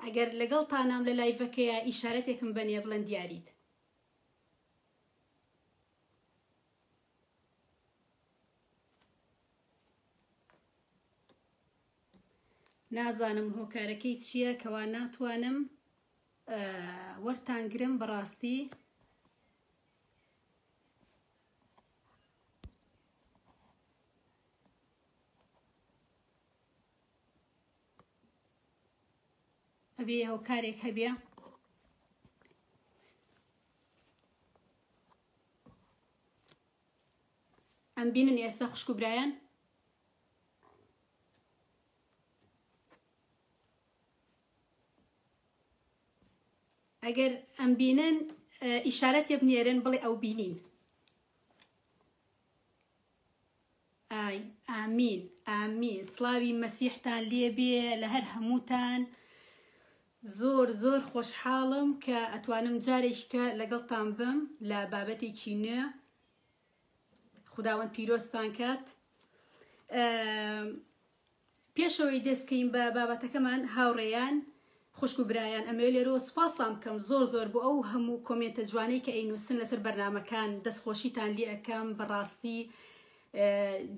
ئەگەر لەگەڵ تانام لە لایڤەکەیە ئیشارەتێکم بەنێ بڵێن دیاریت نازانم هۆکارەکەی چییە کەوا ناتوانم وەرتانگرم بەڕاستی ئەبێ هۆکارێک هەبێ ئەم بینن ئێستا خوشک و برایان ئەگەر ئەم بینن ئیشارەت یە بنێرن بڵێ ئەو بینین ئای ئامین ئامین سڵاوی مەسیحتان لێ بێ لە هەر هەمووتان زۆر زۆر خۆشحاڵم کە ئەتوانم جارێککە لەگەڵتان بم لە بابەتێکی نوێ خداوەند پیرۆستان کات پێش ئەوەی دەست کەین بە بابەتەکەمان هاوڕێیان خوشک و برایان ئەمەوێ لێرەوە سوپاستان بکەم زۆر زۆر بۆ ئەو هەموو کۆمێنتە جوانەی کە ئەینوسن لەسەر بەرنامەکان دەست خۆشیتان لێ ئەکەم بەڕاستی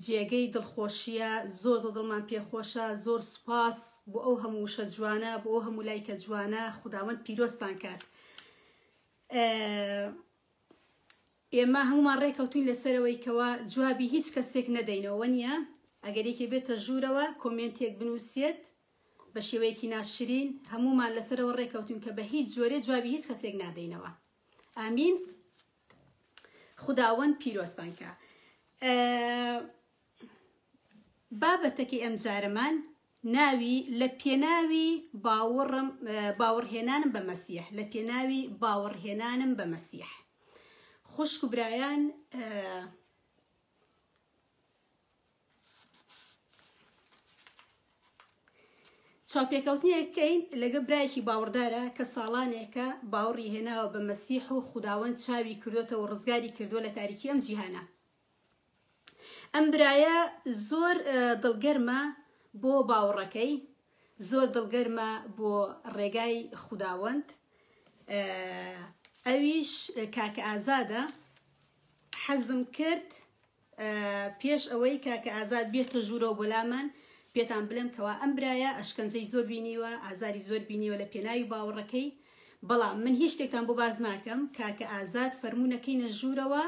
جێگەی دڵخۆشیە زۆر زۆر دڵمان پێ خۆشە زۆر سوپاس بۆ ئەو هەموو وشە جوانە بۆ ئەو هەموو لایکە جوانە خوداوەند پیرۆستان کات ئێمە هەموومان ڕێکەوتوین لەسەرەوەی کەوا جوابی هیچ کەسێک نەدەینەوە وەنیە ئەگەر یەکێ بێتە ژوورەوە کۆمێنتێک بنووسێت بە شێوەیەکی ناشرین هەموومان لەسەرەوە ڕێکەوتون کە بە هیچ جۆرێ جوابی هیچ کەسێک نادەینەوە ئامین خداوەند پیرۆستانکە بابەتەکەی ئەمجارەمان ناوی لە پێناوی باوەڕم باوەڕهێنانم بە مەسیح لە پێناوی باوەڕهێنانم بە مەسیح خوشک و برایان چاپێکەوتنیەکەین لەگە برایەکی باوەڕدارە کە ساڵانێکە باوەڕی هێناوە بە مەسیح و خودداوەند چاوی کردوێتەوە ڕزگاری کردووە لە تاریکی ئەم جیهانە ئەم برایە زۆر دڵگەرمە بۆ باوەڕەکەی زۆر دڵگەرمە بۆ ڕێگای خوداوەند ئەویش کاکە ئازادە حەزم کرد پێش ئەوەی کاکە ئازاد بێتە ژوورەوە بۆلامان پێتان بلم کەوا ئەم برایە ئەشکەنجەی زۆر بینیوە ئازاری زۆر بینیوە لە پێناوی باوەڕەکەی بەڵام من هیچ شتێکتان بۆ باز ناکەم کاکە ئازاد فەرمونونەکەی نەژوورەوە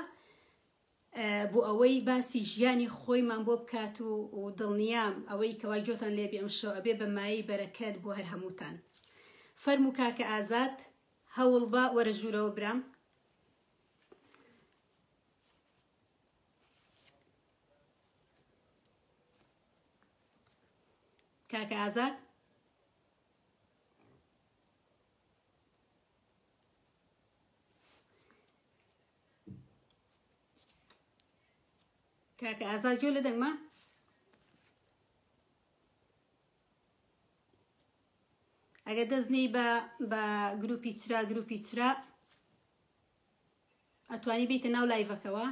بۆ ئەوەی باسی ژیانی خۆیمان بۆ بکات و دڵنیام ئەوەی کەوا گۆتان لێ بێ ئەمشەو ئەبێ بە مایەی بەرەکەت بۆ هەر هەمووتان فەرموو کاکە ئازاد هەوڵبە وەرە ژوورەوە برام کاکە ئازاد کاکە ئازا گوێ لە دەنگمە ئەگە دەستنی بە بە گروپی چرا گروپی چرا ئەتوانی بیتە ناو لایڤەکەوە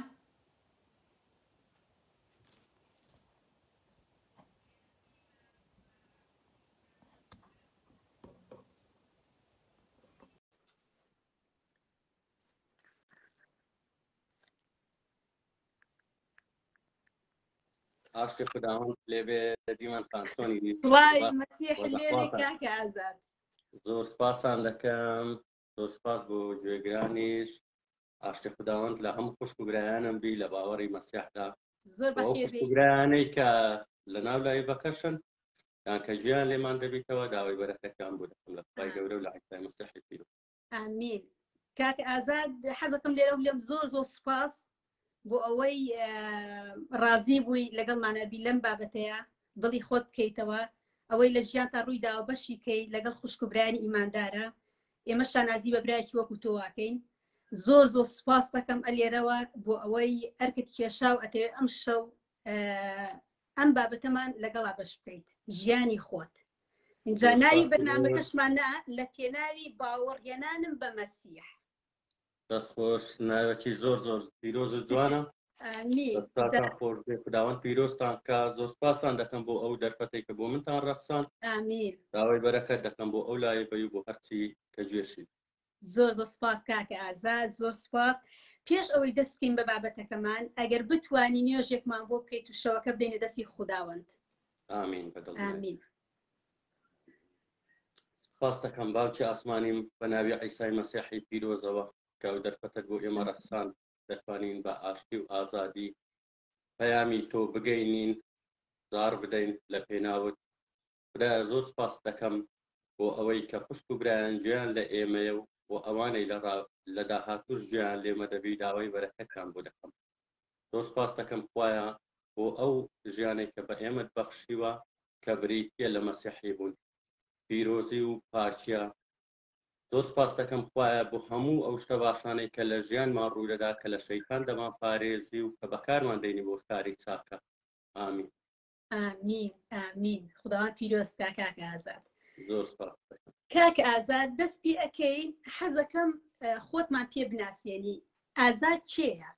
ئاشتی خودداوەند لێبێ دیمان خانسۆنی زۆر سپاسان دەکەم زۆر سپاس بۆ گوێگرانیش ئاشتی خودداوەند لە هەم خوشک و برایانم بی لە باوەڕی مەسیحدا گرانەی کە لە ناو لای بەکەشن یان کە گویان لێمان دەبیتەوە داوای بەرەکەتیان بوو دەکەم لە خی گەورە و لە عیسای مستحی پیرو ئامین کاک ئازاد حەزەکەم لێرە بلێم زۆر زۆر سوپاس بۆ ئەوەی ڕازی بووی لەگەڵمانەبی لەم بابەتەیە دڵی خۆت بکەیتەوە ئەوەی لە ژیان تا ڕووی داوە بەشی کەی لەگەڵ خوشکبرانی ئیماندارە ئێمە شانازی بە برایکی وەکو تۆواکەین زۆر زۆر سوپاس دەکەم ئەلێرەوە بۆ ئەوەی ئەرکت کێشا و ئەتەوێت ئەم شەو ئەم بابەتەمان لەگەڵا بەش بکەیت ژیانی خۆت اینجا ناوی بەرنامەکەشمان نا لە پێناوی باوەڕهێنانم بە مەسیح دەست خۆش ناوێکی زۆر زۆر پیرۆز و جوانە خداوەند پیرۆستان کە زۆر سپاستان دەکەم بۆ ئەو دەرفەتی کە بۆ منتان ڕەخسان داوای بەرەکەت دەکەم بۆ ئەو لایە بەی بۆ هەرچی کە گوێشی زۆر زۆر سپاس کاکە ئازاد زۆر سپاس پێش ئەوەی دەست بکەین بە بابەتەکەمان ئەگەر بتانی نوێژێکمان بۆ بکەیت و شەوەکە بدەینە دەستی خودداوەند ئامین بەدڵ ئامین سپاس دەکەم باوکی ئاسمانیم بە ناوی عیسای مەسیحی پیرۆزەوە کە ئەو دەرفەتەت بۆ ئێمە ڕەخسان دەتوانین بە ئاشتی و ئازادی پەیامی تۆ بگەینین زار بدەین لە پێناوت برایە زۆر سوپاست دەکەم بۆ ئەوەی کە خوشک و برایان گوێیان لە ئێمەیە و بۆ ئەوانەی لە ڕا لە داهاتووش گوێیان لێمە دەبی داوای بەرەکەتتان بۆ دەکەم زۆر سوپاست دەکەم خوایە بۆ ئەو ژیانەی کە بە ئێمەت بەخشیوە کە بریتیە لە مەسیحی بوون پیرۆزی و پاکیە زۆر سوپاست دەکەم خوایە بۆ هەموو ئەو شتە باشانەی کە لە ژیانمان ڕوودەدا کە لە شەیتان دەمان پارێزی و کە بەکارمان دەینی بۆ کاری چاکە ئامین ئامین ئامین خداوان پیرۆز کا کاک ئازاد زۆر سپاس کاک ئازاد دەست پێ ئەەکەی حەزەکەم اه، خۆتمان پێ بناسیێنی ئازاد کێیە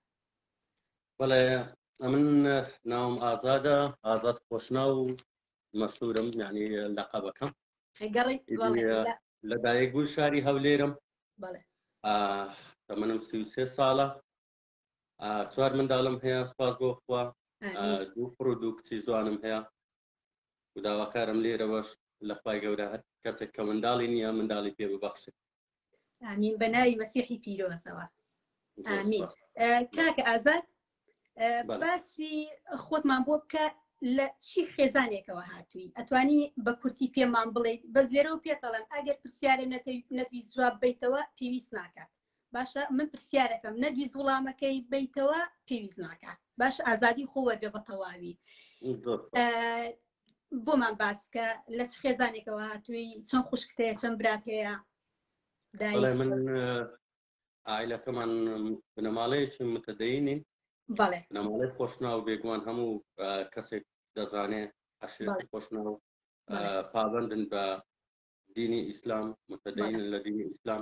بەڵێ ئەمن ناوم ئازادە ئازاد خۆشناو و مەشهورم یعنی لەقەبەکەم گەڕی بەڵێ لە- لە- لە دایک بوو شاری هەولێرم بەڵێ ئاه، تەمەنم سی و سێ ساڵە چوار منداڵم هەیە سپاس بۆ خوا دوو پڕ و دوو کچی زوانم هەیە وداواکارم لێرەوەش لەخوای گەورە هەر کەسێک کە منداڵی نییە منداڵی پێ ببەخشێت ئامین بە ناوی مەسیحی پیرۆزەوە ئامین کاکە ئازاد باسی خۆتمان بۆ بکە لە چی خێزانێکەوە هاتووی ئەتوانی بە کورتی پێمان بڵێیت بەس لێرەوە پێتەڵم ئەگەر پرسیارە نەتویست جواب بیتەوە پێویست ناکات باشە من پرسیارەکەم نەدویست وڵامەکەی بیتەوە پێویست ناکە باش ئازادی خۆ وەرگە بە تەواوی بۆمان باسکە لە چ خێزانێکەوە هاتووی چەند خوشکتەیە چەند برات هەیە من ئایلەکەمان بنەماڵەیەکی متدەینین بەڵێ نەماڵی خۆشناو بێگومان هەموو کەسێک دەزانێ عشرەتی خۆشناو پابندن بە دینی ئیسلام متدەینن لە دینی ئیسلام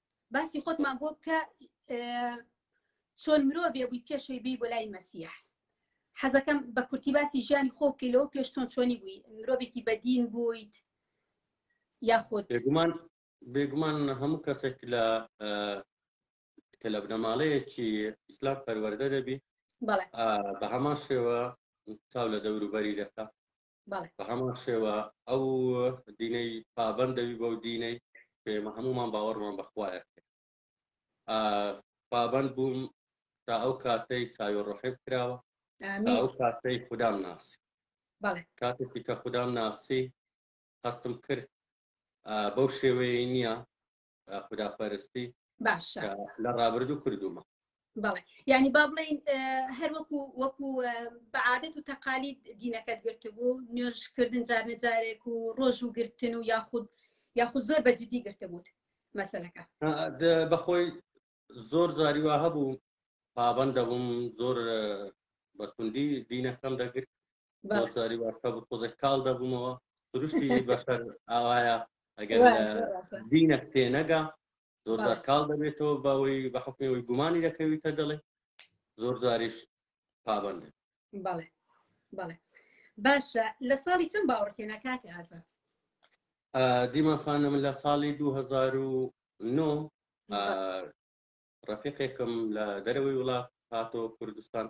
باسی خۆتمان بۆ بکە چۆن مرۆڤێ بووی پێشەوەی بی بۆ لای مەسیح حەزەکەم بە کورتی باسی ژیانی خۆ بکەی لەوە پێش چۆن چۆنی بووی مرۆڤێکی بەدین بوویت یاخود بێگومان بێگومان هەموو کەسێک لە کە لە بنەماڵەیەکی ئیسلام پەروەەردە دەبی بەڵێ آه، بە هەمان شێوە چاو لە دەوروبەری دەکات بە هەمان شێوە ئەو دینەی پابەن دەوی بەو دینەی پێمە هەمومان باوەڕمان بەخوایە پابەن بووم تا ئەو کاتەی ساوی ڕحب کراوە ئەو کاتەی خوددام ناسی کاتێکی کە خوددام ناسی هەستم کرد بەو شێوەیە نییە خودا پەرستی باشە لە ڕابردوو کردومە بەڵێ ینی با بڵین هەر وەکو وەکو بەعادەت و تەقالی دینەکەت گرتبوو نوێژکردن جار نەجارێک و ڕۆژ و گرتن و یاخود یاخود زۆر بەجددی گرتبووت مەسلەکە بەخۆی زۆر جاری وا هەبوو پابەند دەبووم زۆر بەکوندی دینەکەم دەگرت زاری واکە بخۆزە کاڵ دەبوومەوە سروشتی بەسەر ئاوایە ئەگەر دینە پێ نەگا زۆر زار کاڵ دەبێتەوە بەوەی بە حکمەوەی گومانی دەکەویتە دەڵێ زۆر زاریش پابند بەڵێ بەڵێ باشە لە ساڵی چەند باوەڕتێنە کاتی ئازا دیمان خانم لە ساڵی 2009 ڕفیقێکم لە دەرەوەی وڵات هاتۆ کوردستان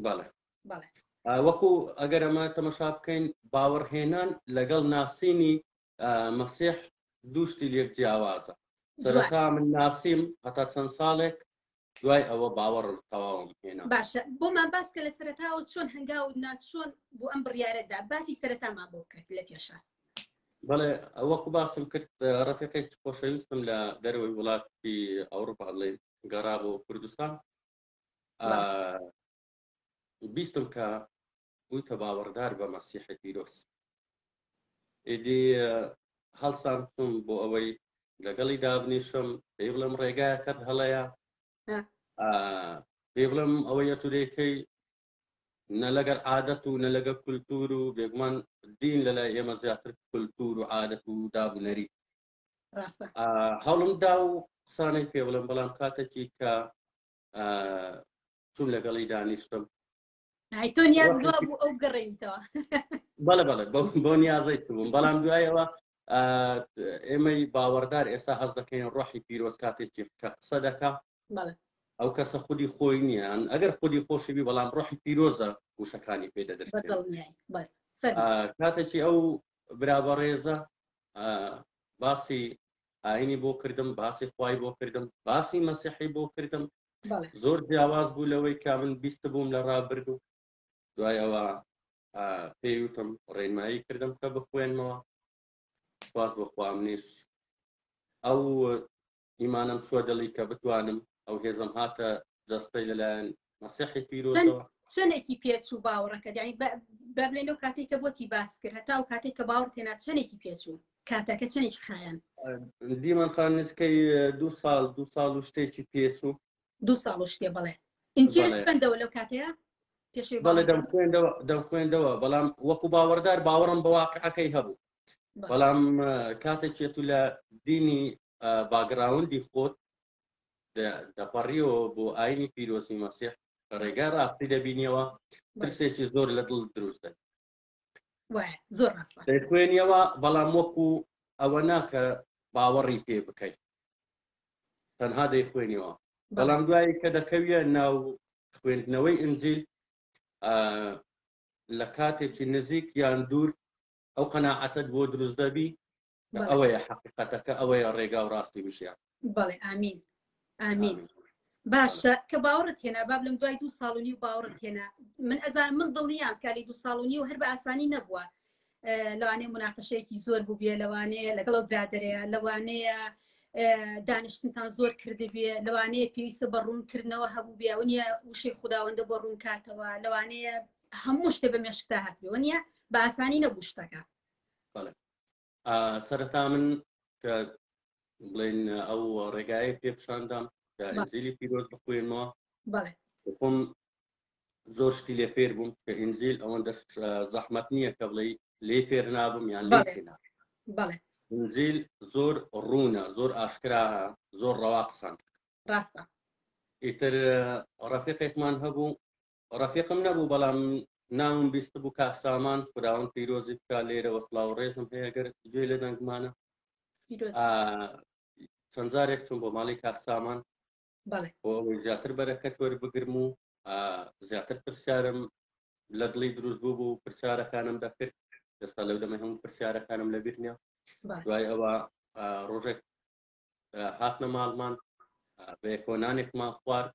بەڵێ وەکو ئەگەر ئەمە تەمەشا بکەین باوەڕهێنان لەگەڵ ناسینی مەسیح دووشتی لێک جیاوازە سەرەتا من ناسیم هەتا چەند ساڵێک دوای ئەوە باوەڕم تەواوم هێنا باشە بۆمان باس کە لە سەرتاوە چۆن هەنگاو ناچۆن بۆ ئەم بڕیارەدا باسی سەرەتامان بۆ کرد لە پێشە بەڵێ ئەوەکو باسم کرد ڕفێقێک خۆشەویستم لە دەرەوەی وڵاتی ئەوروپا بڵێ گەڕا بۆ کوردستان بیستم کە بوویتە باوەڕدار بە مەسیحی پیرۆز. ئیدی هەڵسانتم بۆ ئەوەی لەگەڵی دابنیشم پێی بڵم ڕێگایە کەت هەڵەیە پێ بڵم ئەوەیە تو دەیکەی نە لەگەر عادەت و نە لەگە کولتور و بێگومان دین لە لای ئێمە زیاتر کولتور و عادەت و دابنەری هەڵم دا و قسانەی پێ بڵم بەڵام کاتێکی کە چون لەگەڵی دانیشتم تۆ نیاز دوا بوو ئەو گەڕێنیتەوە بەڵێ بەڵێ بۆ نیازەیت بووم بەڵام دوایەوە ئێمەی باوەڕدار ئێستا هەز دەکەین ڕۆحی پیرۆز کاتێکی کە قسە دەکا ئەو کەسە خودی خۆی نیان ئەگەر خودی خۆشی بی بەڵام ڕۆحی پیرۆزە وشەکانی پێ دەدرێت کاتێکی ئەو برابەڕێزە باسی ئاینی بۆ کردم باسی خوای بۆ کردم باسی مەسیحی بۆ کردم زۆر جیاواز بوو لەوەی کا من بیست بووم لە ڕابرد و دوای ئەوە پێی وتم ڕێنمایی کردم کە بخوێنمەوە خواز بخوا منیش ئەو ئیمانم چوە دڵی کە بتوانم ئەو هێزم هاتە جەستەی لەلایەن مەسیحی پیرۆزەوە چەندێکی پێچوو باوەڕەکە دانی بەبلێن و کاتێک کە بۆتی باس کرد هەتا و کاتێک کە باوەڕ تێنا چەندێکی پێچوو کاتەکە چەنێکی خایەن؟ دیمان خان نزکەی دوو ساڵ دوو ساڵ و شتێکی پێچوو دوو ساڵ و شتێ بڵێ ئینجیل بەڵێ. خوێندەوە لەو کاتەیە پێشەوی بەڵێ باوەڕ. دەم خوێندەوە دەم خوێندەوە بەڵام وەکو باوەڕدار باوەڕم بە واقعەکەی هەبوو بەڵێ. بەڵام اه، کاتێکێت و لە دینی اه، باگراوندی خۆت دە- دەپەڕیەوە بۆ ئاینی پیرۆزی مەسیح ڕێگای ڕاستی دەبینیەوە ترسێکی زۆر لە دڵ دروست دەبێت زۆر خوێنیەوە بەڵام وەکو ئەوە ناکە باوەڕی پێ بکەیت تەنها دەی خوێنیەوە بەڵام دوایی کە دەکەویە ناو خوێندنەوەی ئنجیل لە کاتێکی نزیک یان دوور ئەو قەنەعەتت بۆ دروست دەبی کە ئەوەیە حەقیقەتەکە ئەوەیە ڕێگا و ڕاستی وژیان بەڵێ ئامین ئامین باشە کە باوەڕت هێنا باب لەم دوای دوو ساڵ و نیو باوەڕت هێنا من ئەزان من دڵنیام کالی دوو ساڵ و نیو هەر بە ئاسانی نەبووە لەوانەیە مناقەشەیەکی زۆر بووبێ لەوانەیە لەگەڵ برادرەیە لەوانەیە دانیشتنتان زۆر کردبێ لەوانەیە پێویستە بە ڕوونکردنەوە هەبوو بێ ئەو نیە وشەی خودداوەندە بۆ ڕوونکاتەوە لەوانەیە هەموو شتێ بە مێشکتا هاتبێ وە نیە بە ئاسانی نەبوو شتەکە سەرەتا من کە بڵێن ئەو ڕێگایە پێ پیشاندام کە ئەنجلی پیرۆز بخوێنەوە خۆم زۆر شتی لێ فێر بووم کە ئینجیل ئەوەندە زەحمت نییە کە بڵێ لێ فێر نابم یان لێ ئینجیل زۆر ڕوونە زۆر ئاشکرا زۆر ڕەوا قسان ڕاستە ئیتر ڕەفیقێکمان هەبوو ڕەفیقم نەبوو بەڵام ناوم بیستبوو کاک سامان خداوەند پیرۆزی بکا لێرەوە سڵاو ڕێزم هەیە گەر گوێ لە دەنگمانە چەند جارێک چون بۆ ماڵی کاک سامان بۆ ئەوەی زیاتر بەرەکەت وەربگرم و زیاتر پرسیارم لە دڵی دروست بوو بوو پرسیارەکانم دەکرد ئێستا لەو دەمە هەموو پرسیارەکانم لەبیر نیە دوای ئەوە ڕۆژێک هاتنە ماڵمان بەکۆنانێکمان خوارد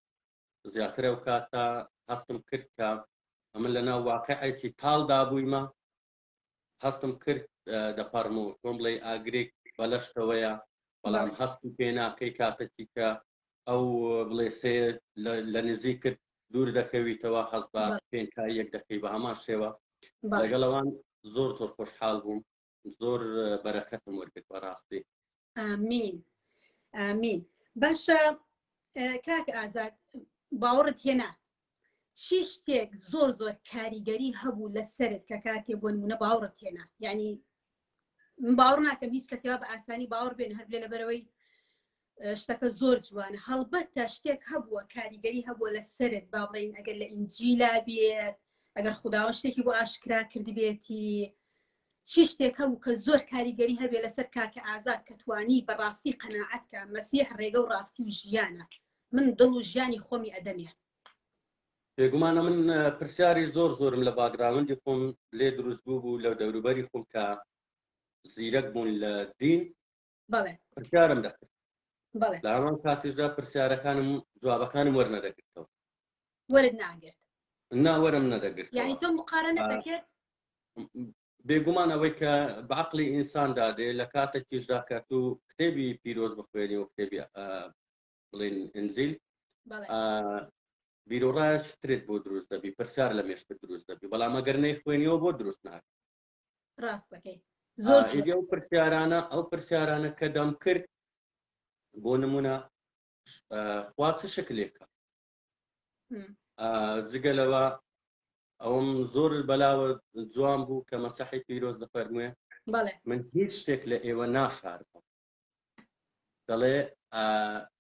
زیاتر ئەو کاتە هەستم کرد کە ئەمن لە ناو واقعێکی تاڵدا بوویمە هەستم کرد دەپەڕم و تۆم بڵێ ئاگرێک بەلەشتەوەیە بەڵام هەستی پێ ناکەی کاتەکی کە ئەو بڵێ سێ لە نزیک کرد دوور دەکەویتەوە حەز بە پێنکای یەک دەکەی بە هەمان شێوە لەگەڵەوان زۆر زۆر خۆشحاڵ بووم زۆر بەرەکەتم وەرگرت بەڕاستی مین مین باشە کاک ئازاد باوەڕت هێنا چی شتێک زۆر زۆر کاریگەری هەبوو لە سرت کە کاتێ بۆ نمونە باوەڕت هێنا یعنی باوەڕ ناکەم هیچ کەسێوا بە ئاسانی باوەڕ بێن هەر لە لەبەرەوەی شتەکە زۆر جوانە هەڵبەتە شتێک هەبووە کاریگەری هەبووە لە سرت با بڵین ئەگەر لە ئینجیلا بێت ئەگەر خداوە شتێکی بۆ ئاشکرا کردبێتی چی شتێکە و کە زۆر کاریگەری هەبێ لەسەر کاکە ئازاد کە توانی بەڕاستی قەنەعەتکە مەسیح ڕێگە و ڕاستی و ژیانە من دڵ و ژیانی خۆمی ئەدەمێ بێگومانە من پرسیاری زۆر زۆرم لە باگراوندی خۆم لێ دروست بوو بوو لە دەوروبەری خۆم کە زیرەک بوون لە دین پرسیارم دەکرد لە هەمان کاتیشدا پرسیارەکانم جوابەکانم وەرنەدەگرتەوە وەرت ناگرت ناوەرم نەدەگرت یعنی تۆ مقارنە دەکرد بێگومان ئەوەی کە بەعقلی ئینسان دادێ لە کاتە کیشدا کە تو کتێبی پیرۆز بخوێنی و کتێبی بڵین ئەنزیل بیرۆڕایش ترێت بۆ دروست دەبی پرسیار لە مێشت دروست دەبی بەڵام ئەگەر نەی خوێنیەوە بۆ دروست ناکە ڕاست دەکەی زۆر ئەو پرسیارانە ئەو پرسیارانە کە دەم کرد بۆ نمونە خوا چ شکلێکە جگە لەوە ئەوم زۆر بەلاوە جوان بوو کە مەسەحی پیرۆز دەفەرموێ من هیچ شتێک لە ئێوە ناشارەوە دەڵێ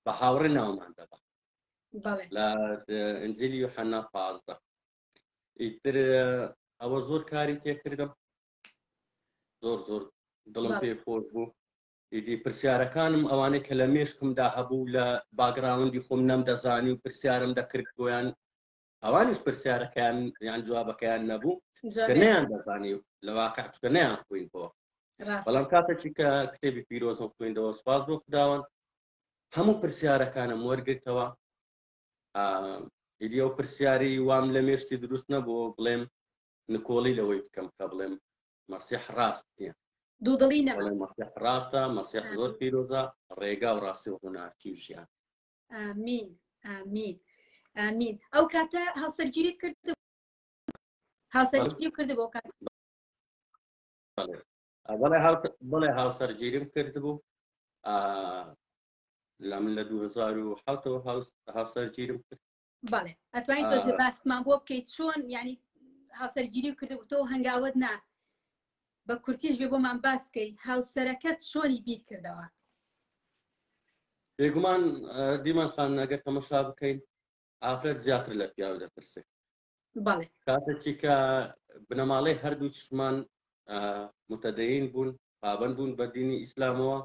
بە هاوڕێ ناومان دەبات لە ئەنجلی و حەنا پازدە ئیتر ئەوە زۆر کاری تێکردم زۆر زۆر دڵم پێ خۆش بوو ئیدی پرسیارەکانم ئەوانەی کە لە مێشکمدا هەبوو لە باگراوندی خۆم نەم دەزانی و پرسیارم دەکرد بۆیان ئەوانیش پرسیارەکەیان یان جوابەکەیان نەبوو کە نیان دەزانی لە واقع چکە نیان خوین بۆ بەڵام کاتێکی کە کتێبی پیرۆزم خوێندەوە سپاس بۆ خداوەن هەموو پرسیارەکانم وەرگرتەوە ئیدی ئەو پرسیاری وام لە مێشتی دروست نەبوو بڵێم نکۆڵی لەوەی بکەم کە بڵێم مەسیح ڕاست نییە دوودڵی نە مەسیح ڕاستە مەسیح زۆر پیرۆزە ڕێگا و ڕاستی و هوناچی و ژیان ئامین ئامین ئامین ئەو کاتە هاوسەرگیریت کرد هاوسەرگیری کرد بۆ کات بەڵێ هاوسەرگیریم کرد بوو لا من لە دوو هەزار و حەوت و هاوس هاوسەر گیرم کرد بەڵێ ئەتوانی تۆزێ آه. باسمان بۆ بکەیت چۆن یعنی هاوسەرگیری و کردو تۆ هەنگاوت نا بە کورتیش بێ بۆمان باسکەی هاوسەرەکەت چۆنی بیر کردەوە بێگومان آه، دیمان خان ئەگەر تەمەشا بکەین ئافرەت زیاتر لە پیاو دەپرسێ کاتێکیکە بنەماڵەی هەردوو چشمان متەدەین بوون پابند بوون بە دینی ئیسلامەوە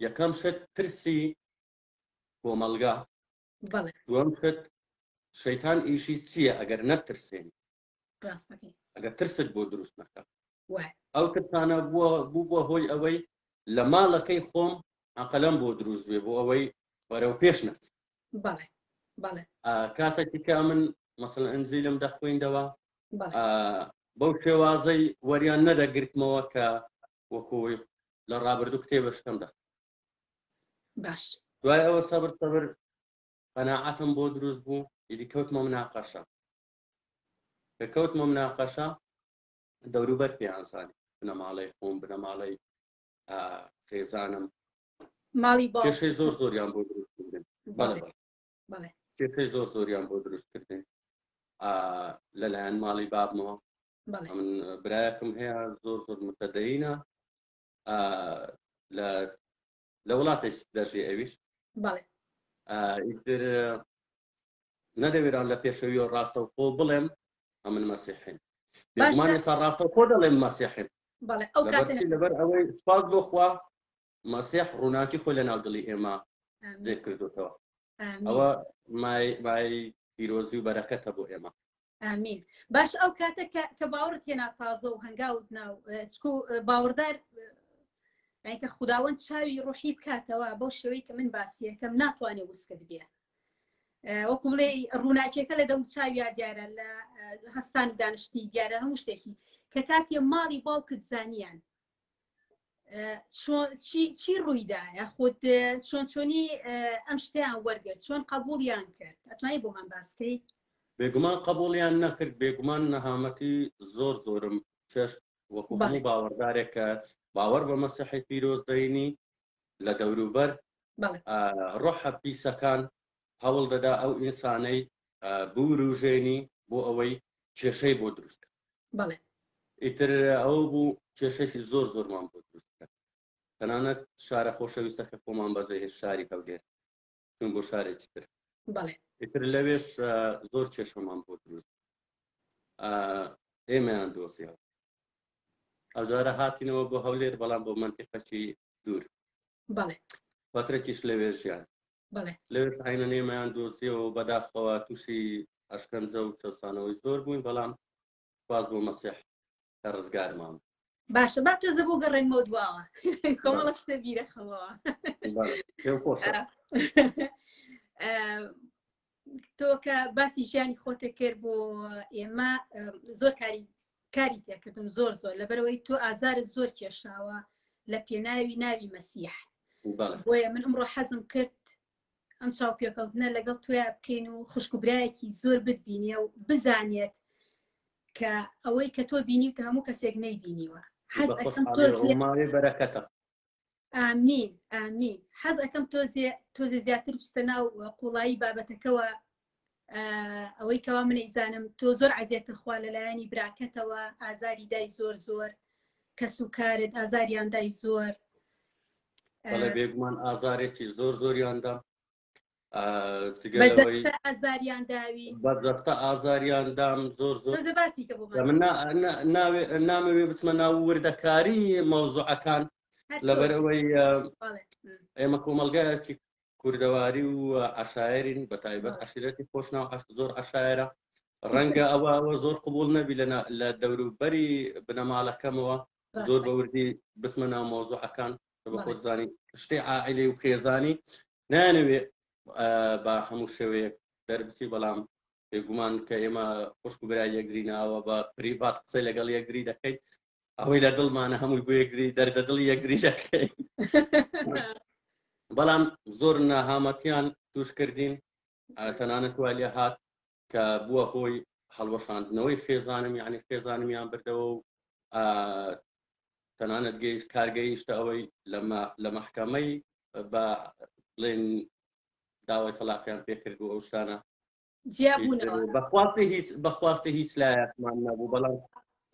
یەکەم شت ترسی کۆمەلگا دوم شت شەیتان ئیشی چییە ئەگەر نەترسێن راست دەکەی. ئەگەر ترست بۆ دروست نەکەم. وایە. ئەو ترسانە بووە بووبووە هۆی ئەوەی لە ماڵەکەی خۆم عەقلم بۆ دروست بێ بۆ ئەوەی بەرەو پێش نەچ. بەڵێ بەڵێ. ئا کاتەکی کە ئەمن مەسەڵەن ئنجیلم دەخویندەوە بەڵێ. ئا بەو شێوازەی وەریان نەدەگرتمەوە کە وەکوی لە ڕابردوو کتێبە شتم دەخ. باش. دوای ئەوە سەبر سەبر قەناعەتم بۆ دروست بوو ئیدی کەوتمە مناقەشە. کە کەوتمە مناقەشە دەوروبەر پێیان زانی بنەماڵەی خۆم بنەماڵەی خێزانم ماڵی باشەی زۆر زۆریان بۆ دروستکردن بەڵێ زۆر زۆریان بۆ دروستکردن لەلایەن ماڵی بابمەوە من برایەکم هەیە زۆر زۆر متەدەینە لە لە وڵاتێک دەژی ئەویش بەڵێ ئیتر نەدەوێران لە پێشەوی و ڕاستەوخۆ بڵێم ئەمن مەسیحین بێگومان ئێستا ڕاستەوخۆ دەڵێم مەسیحین بەڵێ ئەو کاتە لەبەر ئەوەی سپاس بۆ خوا مەسیح ڕووناکی خۆی لە ناو دڵی ئێمە جێ کردوتەوە ئەوە مای مای پیرۆزی و بەرەکەتە بۆ ئێمە ئامین باش ئەو کاتە کە باوەڕت هێنا تازە و هەنگاوت ناو چکو باوەڕدار کە خودداوەند چاوی ڕوحی بکاتەوە بۆ شێوەی کە من باسیەکەم ناتوانێت وسکت بێ وەکو بڵێ ڕووناکیەکە لە دەم چاویا دیارە لە هەستان دانیشتی دیارە هەموو شتێکی کە کاتێ ماڵی باوکت زانیان چی ڕوویدایە خودت چۆن چۆنی ئەم شتیان وەرگرت چۆن قبولیان کرد ئەتوانی بۆمان باسکەی بێگومان قبولیان نەکرد بێگومان نەهامەتی زۆر زۆرم چێشت وەکو هەموو باوەڕدارێک کە باوەڕ بە مەسیحی پیرۆز دەینی لە دەوروبەر ڕۆحە پیسەکان هەوڵ دەدا ئەو ئینسانەی بوروژێنی بۆ ئەوەی کێشەی بۆ دروست بکات بەڵێ ئیتر ئەوە بوو کێشەشی زۆر زۆرمان بۆ دروست بکات تەنانەت شارە خۆشەویستە کە خۆمان بەزێ هێش شاری هەولێر چون بۆ شارێکی تر بەڵێ ئیتر لەوێش ئە، زۆر کێشەمان بۆ دروست ئە، ئێمەیان دۆزیەوە ئەوجارە هاتینەوە بۆ هەولێر بەڵام بۆ منتیقەکی دوور بەڵێ فترەکیش لەوێ ژیان لەوێش عینە نێمەیان دۆزیەوە و بەداخەوە تووشی ئەشکەنجە و چەسانەوەی زۆر بووین بەڵام باز بۆ مەسیح کە ڕزگارمان باشە با تۆزە بۆ گەڕێنمەوە دواوە کۆمەڵە شتە بیرەخەمەوە تۆ کە باسی ژیانی خۆتێک کرد بۆ ئێمە زۆر کاری کاری تێکردم زۆر زۆر لەبەرەوەی تۆ ئازارت زۆر کێشاوە لە پێناوی ناوی مەسیح بۆیە من ئەمڕۆ حەزم کرد ئەم چاوپێکەوتنە لەگەڵ تویا بکەین و خوشکبرایەکی زۆر بتبینێ و بزانێت کە ئەوەی کە تۆ بینی و هەموو کەسێک نەیبینیوە حەز بەرەکەتە ئامین ئامین حەز ئەەکەم تۆزێ تۆزێ زیاتر بچتە ناو قوڵایی بابەتەکەەوە ئەوەی کەوا من ئیزانم تۆ زۆر عزیێتە خوا لەلایەنی براکەتەوە ئازاری دای زۆر زۆر کەس و کارت ئازاریاندای زۆر بەڵێ بێگومان ئازارێکی زۆر زۆریاندا ئازاریان داوی بەدەستە ئازاریان دام زۆر زۆر باسی نامەوێ بچمە ناو وردەکاری مەوزوعەکان لەبەرەوەی ئێمە کۆمەلگایەکی کوردەواری و عشاعرین بە تایبەت عشرەتی خۆشناو زۆر عشاعرە ڕەنگە ئەوەوە زۆر قوبول نەبی لە دەوروبەری بنەماڵەکەمەوە زۆر بەوردی بسمە ناو مۆزوعەکان بە خۆت زانی شتێ عائلەی و خێزانی نانەوێ بە هەموو شێوەیەک دەربچی بەڵام بێگومان کە ئێمە خوشک و برای یەکدری ناوە بە پریڤات قسەی لەگەڵ یەکدری دەکەیت ئەوەی لە دڵمانە هەمووی بۆ یەکدری دەردە دڵی یەکدری دەکەین بەڵام زۆر ناهامەتیان توش کردین تەنانەت والێ هات کە بووە هۆی هەڵوەشاندنەوەی خێزانم یعنی خێزانمیان بردەوە و تەنانەت گەیشت کارگەیشتە ئەوەی لە مەحکەمەی بە بڵێن داوای تەلاقیان پێکرد و ئەو شتانە بەخواستی هیچ بەخواستی هیچ لایەکمان نەبوو بەڵام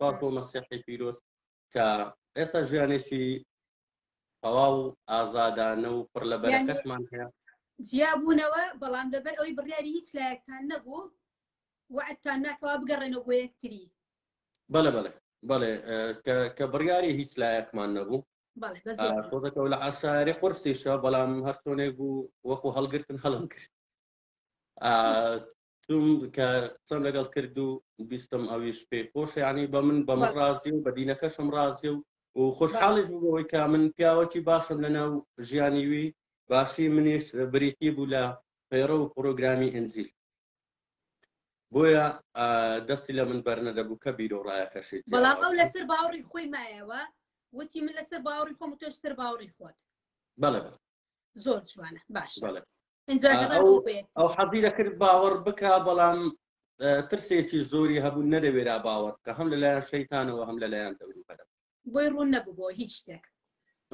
پاکۆ مەسیحی پیرۆز کە ئێستا ژیانێکی تەواو ئازادانە و پڕ لە بەرەکەتمان هەیە جیابوونەوە بەڵام لەبەر ئەوەی بڕیاری هیچ لایەکتان نەبوو وعدتان ناکەوا بگەڕێنەوە بۆ یەکتری بەڵێ بەڵێ بەڵێ کە بڕیاری هیچ لایەکمان نەبوو خۆدەکە لە ئاساری قرسیشە بەڵام هەرسۆنێک بوو وەکو هەڵگرتن هەڵم کرد چووم کە قسەم لەگەڵ کرد و بیستم ئەویش پێی خۆشە یعنی بە من بە من ڕازی و بە دینەکەشم ڕازی و و خۆشحاڵیش بوو بەوەی کە من پیاوەکی باشم لەناو ژیانی وی باشی منیش بریتی بوو لە پەیڕە و پرۆگرامی ئنجیل بۆیە ئا، دەستی لە من بەرنەدەبوو کە بیر و ڕایەکەشی بەڵام جیاواز ئەو بوو. لەسەر باوەڕی خۆی مایەوە وتی من لەسەر باوەڕی خۆم و تۆش سەر باوەڕی خۆت بەڵێ بەڵێ زۆر جوانە باشە بەڵێ ئەو حەزی دەکرد باوەڕ بکە بەڵام ترسێکی زۆری هەبوو نەدەوێرا باوەڕ کە هەم لەلایەن شەیتانەوە هەم لەلایەن دەوری بەرە بۆی ڕوون نەبوو هیچ شتێک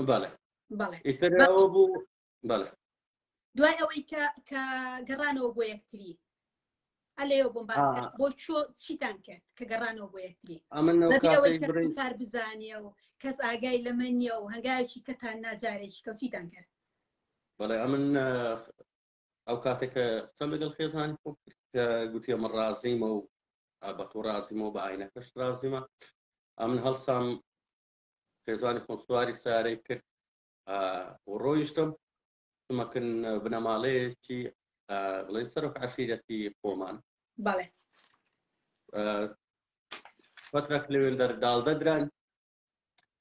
بەڵێ بەڵێ ئیترەوە بوو بەڵێ دوای ئەوەی کە کە گەڕانەوە بۆ یەکتری ئەلێو بۆم باس کە بۆ چۆ چیتان کرد کە گەڕانەوە بۆ یەکتری کار بزانە و کەس ئاگای لەمە نیە و هەنگاوێکی کەتان ناجارێکی کە چیتان کرد بەڵێ ئەمن ئەو کاتێکە قسەم لەگەڵ خێزانی خۆ کە گوتی ئەمە ڕازیمە و بە تۆ ڕازیمەوە بە ئاینەکەش ڕازیمە ئەمن هەڵسام خێزانی خۆم سواری سارەی کرد ڕۆیشتم سمەکن بنەماڵەیەکی بڵێن سەرۆک عشیرەتی خۆمان بەڵێ فترەک لەوێن دەر داڵدەدران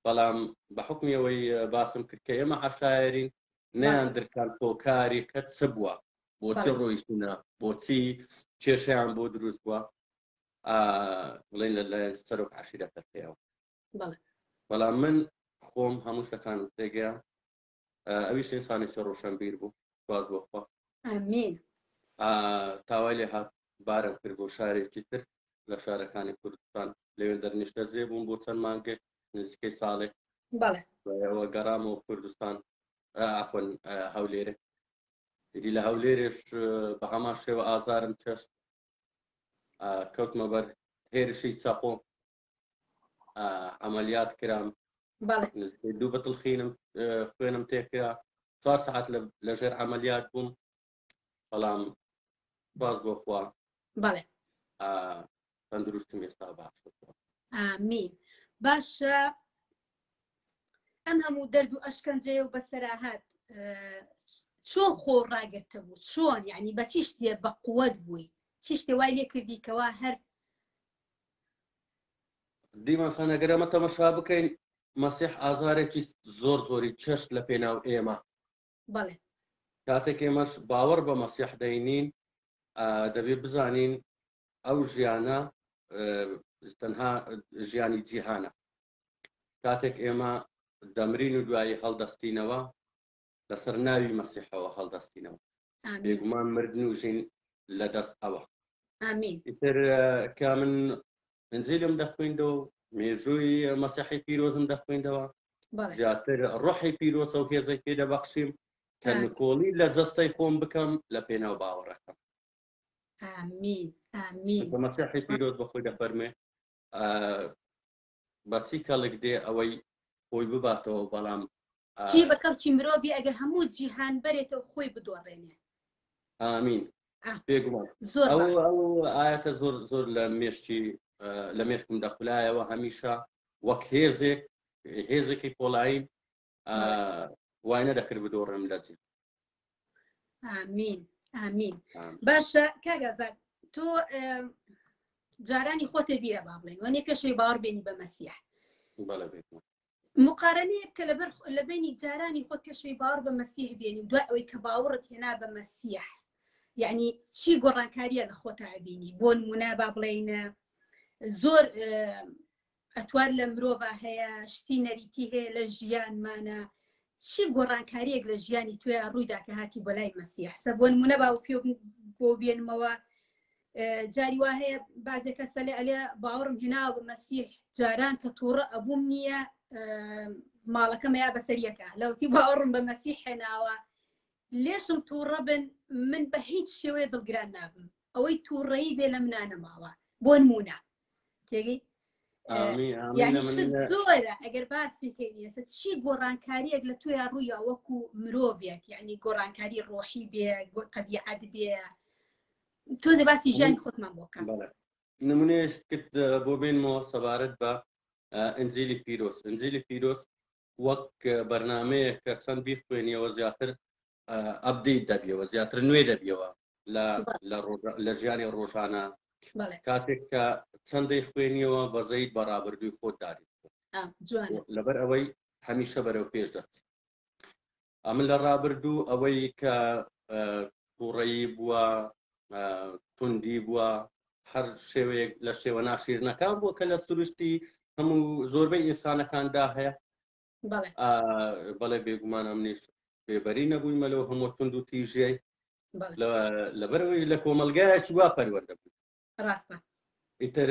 بەڵام بە حکمیەوەی باسم کرد کە ئێمە عشاعرین نیان درکان تۆکاری قەت چ بووە بۆچی ڕۆیشتونە بۆچی کێشیان بۆ دروست بووە بڵێن لەلایەن سەرۆک عشیرەتەکەیەوە بەڵام من خۆم هەموو شتەکان تێگەیان ئەویش ئینسانی چ ڕوشەنبیر بوو سپاس بۆ خوا. ئامین. ئا تاوای لێ هات بارم کرد بۆ شارێکی تر لە شارەکانی کوردستان لەوێ دەرنیشتەجێ بووم بۆ چەند مانگێک نزیکەی ساڵێک بەڵێ بەوە گەڕامەوە کوردستان ئا عەفوەن ئا هەولێرێ ئیدی لە هەولێرێش بە هەمان شێوە ئازارم چەشت ئا کەوتمە بەر هێرشی چەقۆ عملیات کرام دوو بەتڵ خینم خوێنم تێکرا چوار سعات لە ژێر عملیات بووم بەڵام باز بۆ خوا بەڵێ تەندروستم ئێستا باش ئامین باشە ئەم هەموو دەرد و ئەشکەنجەیە و بەسەراهات چۆن خۆ ڕاگرتە بوو چۆن یعنی بە چی شتێ بە قووەت بووی چی شتێ وای لێ کردی کەوا هەر دیمەن خان ئەگەر ئەمە تەمەشا بکەین مەسیح ئازارێکی زۆر زۆری چەشت لە پێناو ئێمە بەڵێ کاتێک ئێمەش باوەڕ بە مەسیح دەینین دەبێ بزانین ئەو ژیانە تەنها ژیانی جیهانە کاتێک ئێمە دەمرین و دوایی هەڵدەستینەوە لەسەر ناوی مەسیحەوە هەڵدەستینەوە بێگومان مردن و ژین لە دەست ئەوە ئیتر کە من ئەنجیلم دەخوێندەوە مێژووی مەسیحی پیرۆزم دەخوێندەوە زیاتر ڕحی پیرۆسە و هێزەی پێ دەبەخشیم کە نکۆڵی لە جەستەی خۆم بکەم لە پێناو باوەڕەکەم ئامین ئامین مەسیحی پیرۆز بە خۆی دەفەرمێ بەچی کەڵک دێ ئەوەی خۆی بباتەوە بەڵام. چی بە کەڵکی مرۆڤی ئەگەر هەموو جیهان بەرێتەو خۆی بدۆڕێنێ. ئامین بێگومان ئەو ئەو ئاەتە زۆر زۆر لە مێشتی لە مێشکم دەخولایەوە هەمیشە وەک هێزێک هێزێکی پۆڵایی وای نەدەکرد بدۆڕێم لە جێ ئامین ئامین باشە کاگازات تۆ جارانی خۆتێ بیرە با بڵێن وەنێ پێشەوەی باوەڕ بێنی بە مەسیح مقارنەیە کە لەبەر لە بینی جارانی خۆت پێشەوەی باوەڕ بە مەسیح بێنی دوای ئەوەی کە باوەڕت هێنا بە مەسیح یعنی چی گۆڕانکاریە لە خۆتا بینی بۆ نمونە با بڵێینە زۆر ئەتوار لە مرۆڤا هەیە، شتی نەریتی هەیە لە ژیانمانا، چی گۆڕانکاریەک لە ژیانی تۆیا ڕوویدا کە هاتی بۆ لای مەسیح؟ سە بۆنمونە باوپێ بۆ بێنمەوە جاری وا هەیە بازێک کە سەلێ ئەلێ باوەڕم هێنا بە مەسیح جاران کە تووڕە ئەبووم نییە ماڵەکەمەیە بەسەریەکە لەوتی باوەڕم بە مەسیح هێناوە لێشم تووڕە بن من بە هیچ شێوەیە دڵگران نابم ئەوەی تووڕەی بێ لە منانەماوە بۆ نمونە تێگەی زۆرە ئەگەر باسی کەینیەسە چی گۆڕانکاریەک لە تویا ڕوویا وەکو مرۆڤێک یعنی گۆڕانکاری ڕۆحی بێ قەبیعەت بێ تۆ دە باسی ژیانی خۆتمان بۆکەم نمونەیەش کرد بۆ بێنمەوە سەبارەت بە ئەنجلی پیرۆس ئەنجلی پیرۆس وەک بەرنمەیە کە چەند بیخوێنیەوە زیاتر ئەبدەیت دەبیەوە زیاتر نوێ دەبیەوە لە ژیانی ڕۆژانە کاتێک کە چەندەی خوێنیەوە بەزەیت بە ڕابردووی خۆت دادیت لەبەر ئەوەی هەمیشە بەرەو پێش دەست ئەمە لە ڕابردوو ئەوەی کە تووڕەیی بووە توندی بووە هەر شێوەیەک لە شێوە ناشیرنەکان بووە کە لە سروشتی هەموو زۆربەی ئینسانەکاندا هەیە بەڵێ بێگومان ئەمنیش بێبەری نەبوویمە لەو هەموو تونند و تیژیای لەبەرەوەی لە کۆمەلگایەکی وا پەروەەردە بوو ڕاستە ئیتر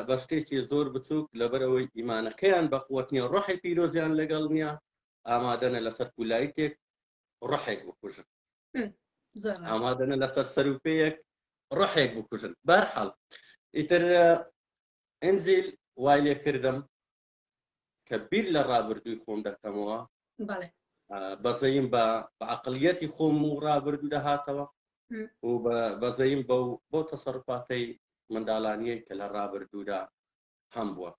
بە شتێکی زۆر بچووک لەبەرەوەی ئیمانەکەیان بەقوت نیە ڕحی پیرۆزیان لەگەڵ نییە ئامادەنە لەسەر کولایتێک ڕحێک بکوژن ئامادەنە لەسەر سەروپەیەک ڕحێک بکوژن بەرحاڵ ئیتر ئەنزیل وای لێ کردم کە بیر لە ڕابردووی خۆم دەکەمەوە بەزەیم بە عقلیەتی خۆم و ڕابردوو دەهاتەوە و بەزەیم بە و بۆ تەسەڕفاتەی منداڵانیە کە لە ڕابردوودا هەم بووە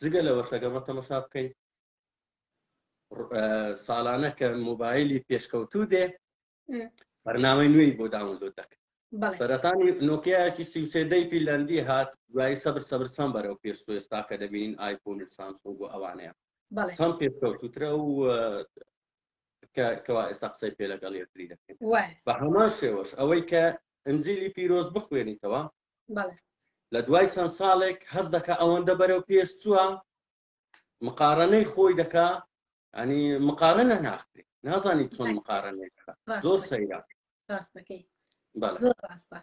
جگە لە وەشەگەمە تەمەشا بکەین ساڵانە کە موبایلی پێشکەوتوو دێ بەرنامەی نوێی بۆ داونلۆد دەکرد سەرەتانی نۆکیایەکی سیوسێدەی فیلەندی هات دوایی سەبر سەبر سەم بەرەو پێش سوێستا کە دەبینین ئایفۆن و سامسۆن بۆ ئەوانەیە چەند پێکەوتوترە و کەوا ئێستا قسەی پێ لەگەڵ یەکتری دەکەین بە هەمان شێوەش ئەوەی کە ئەنجلی پیرۆز بخوێنیتەوە لە دوای چەند ساڵێک هەز دەکە ئەوەندە بەرەو پێش چووە مقارنەی خۆی دەکا ئەنی مقارنە ناخێ نازانی چۆن مقارنەی زۆر سەیرا ڕاستەکەی زۆر ڕاستە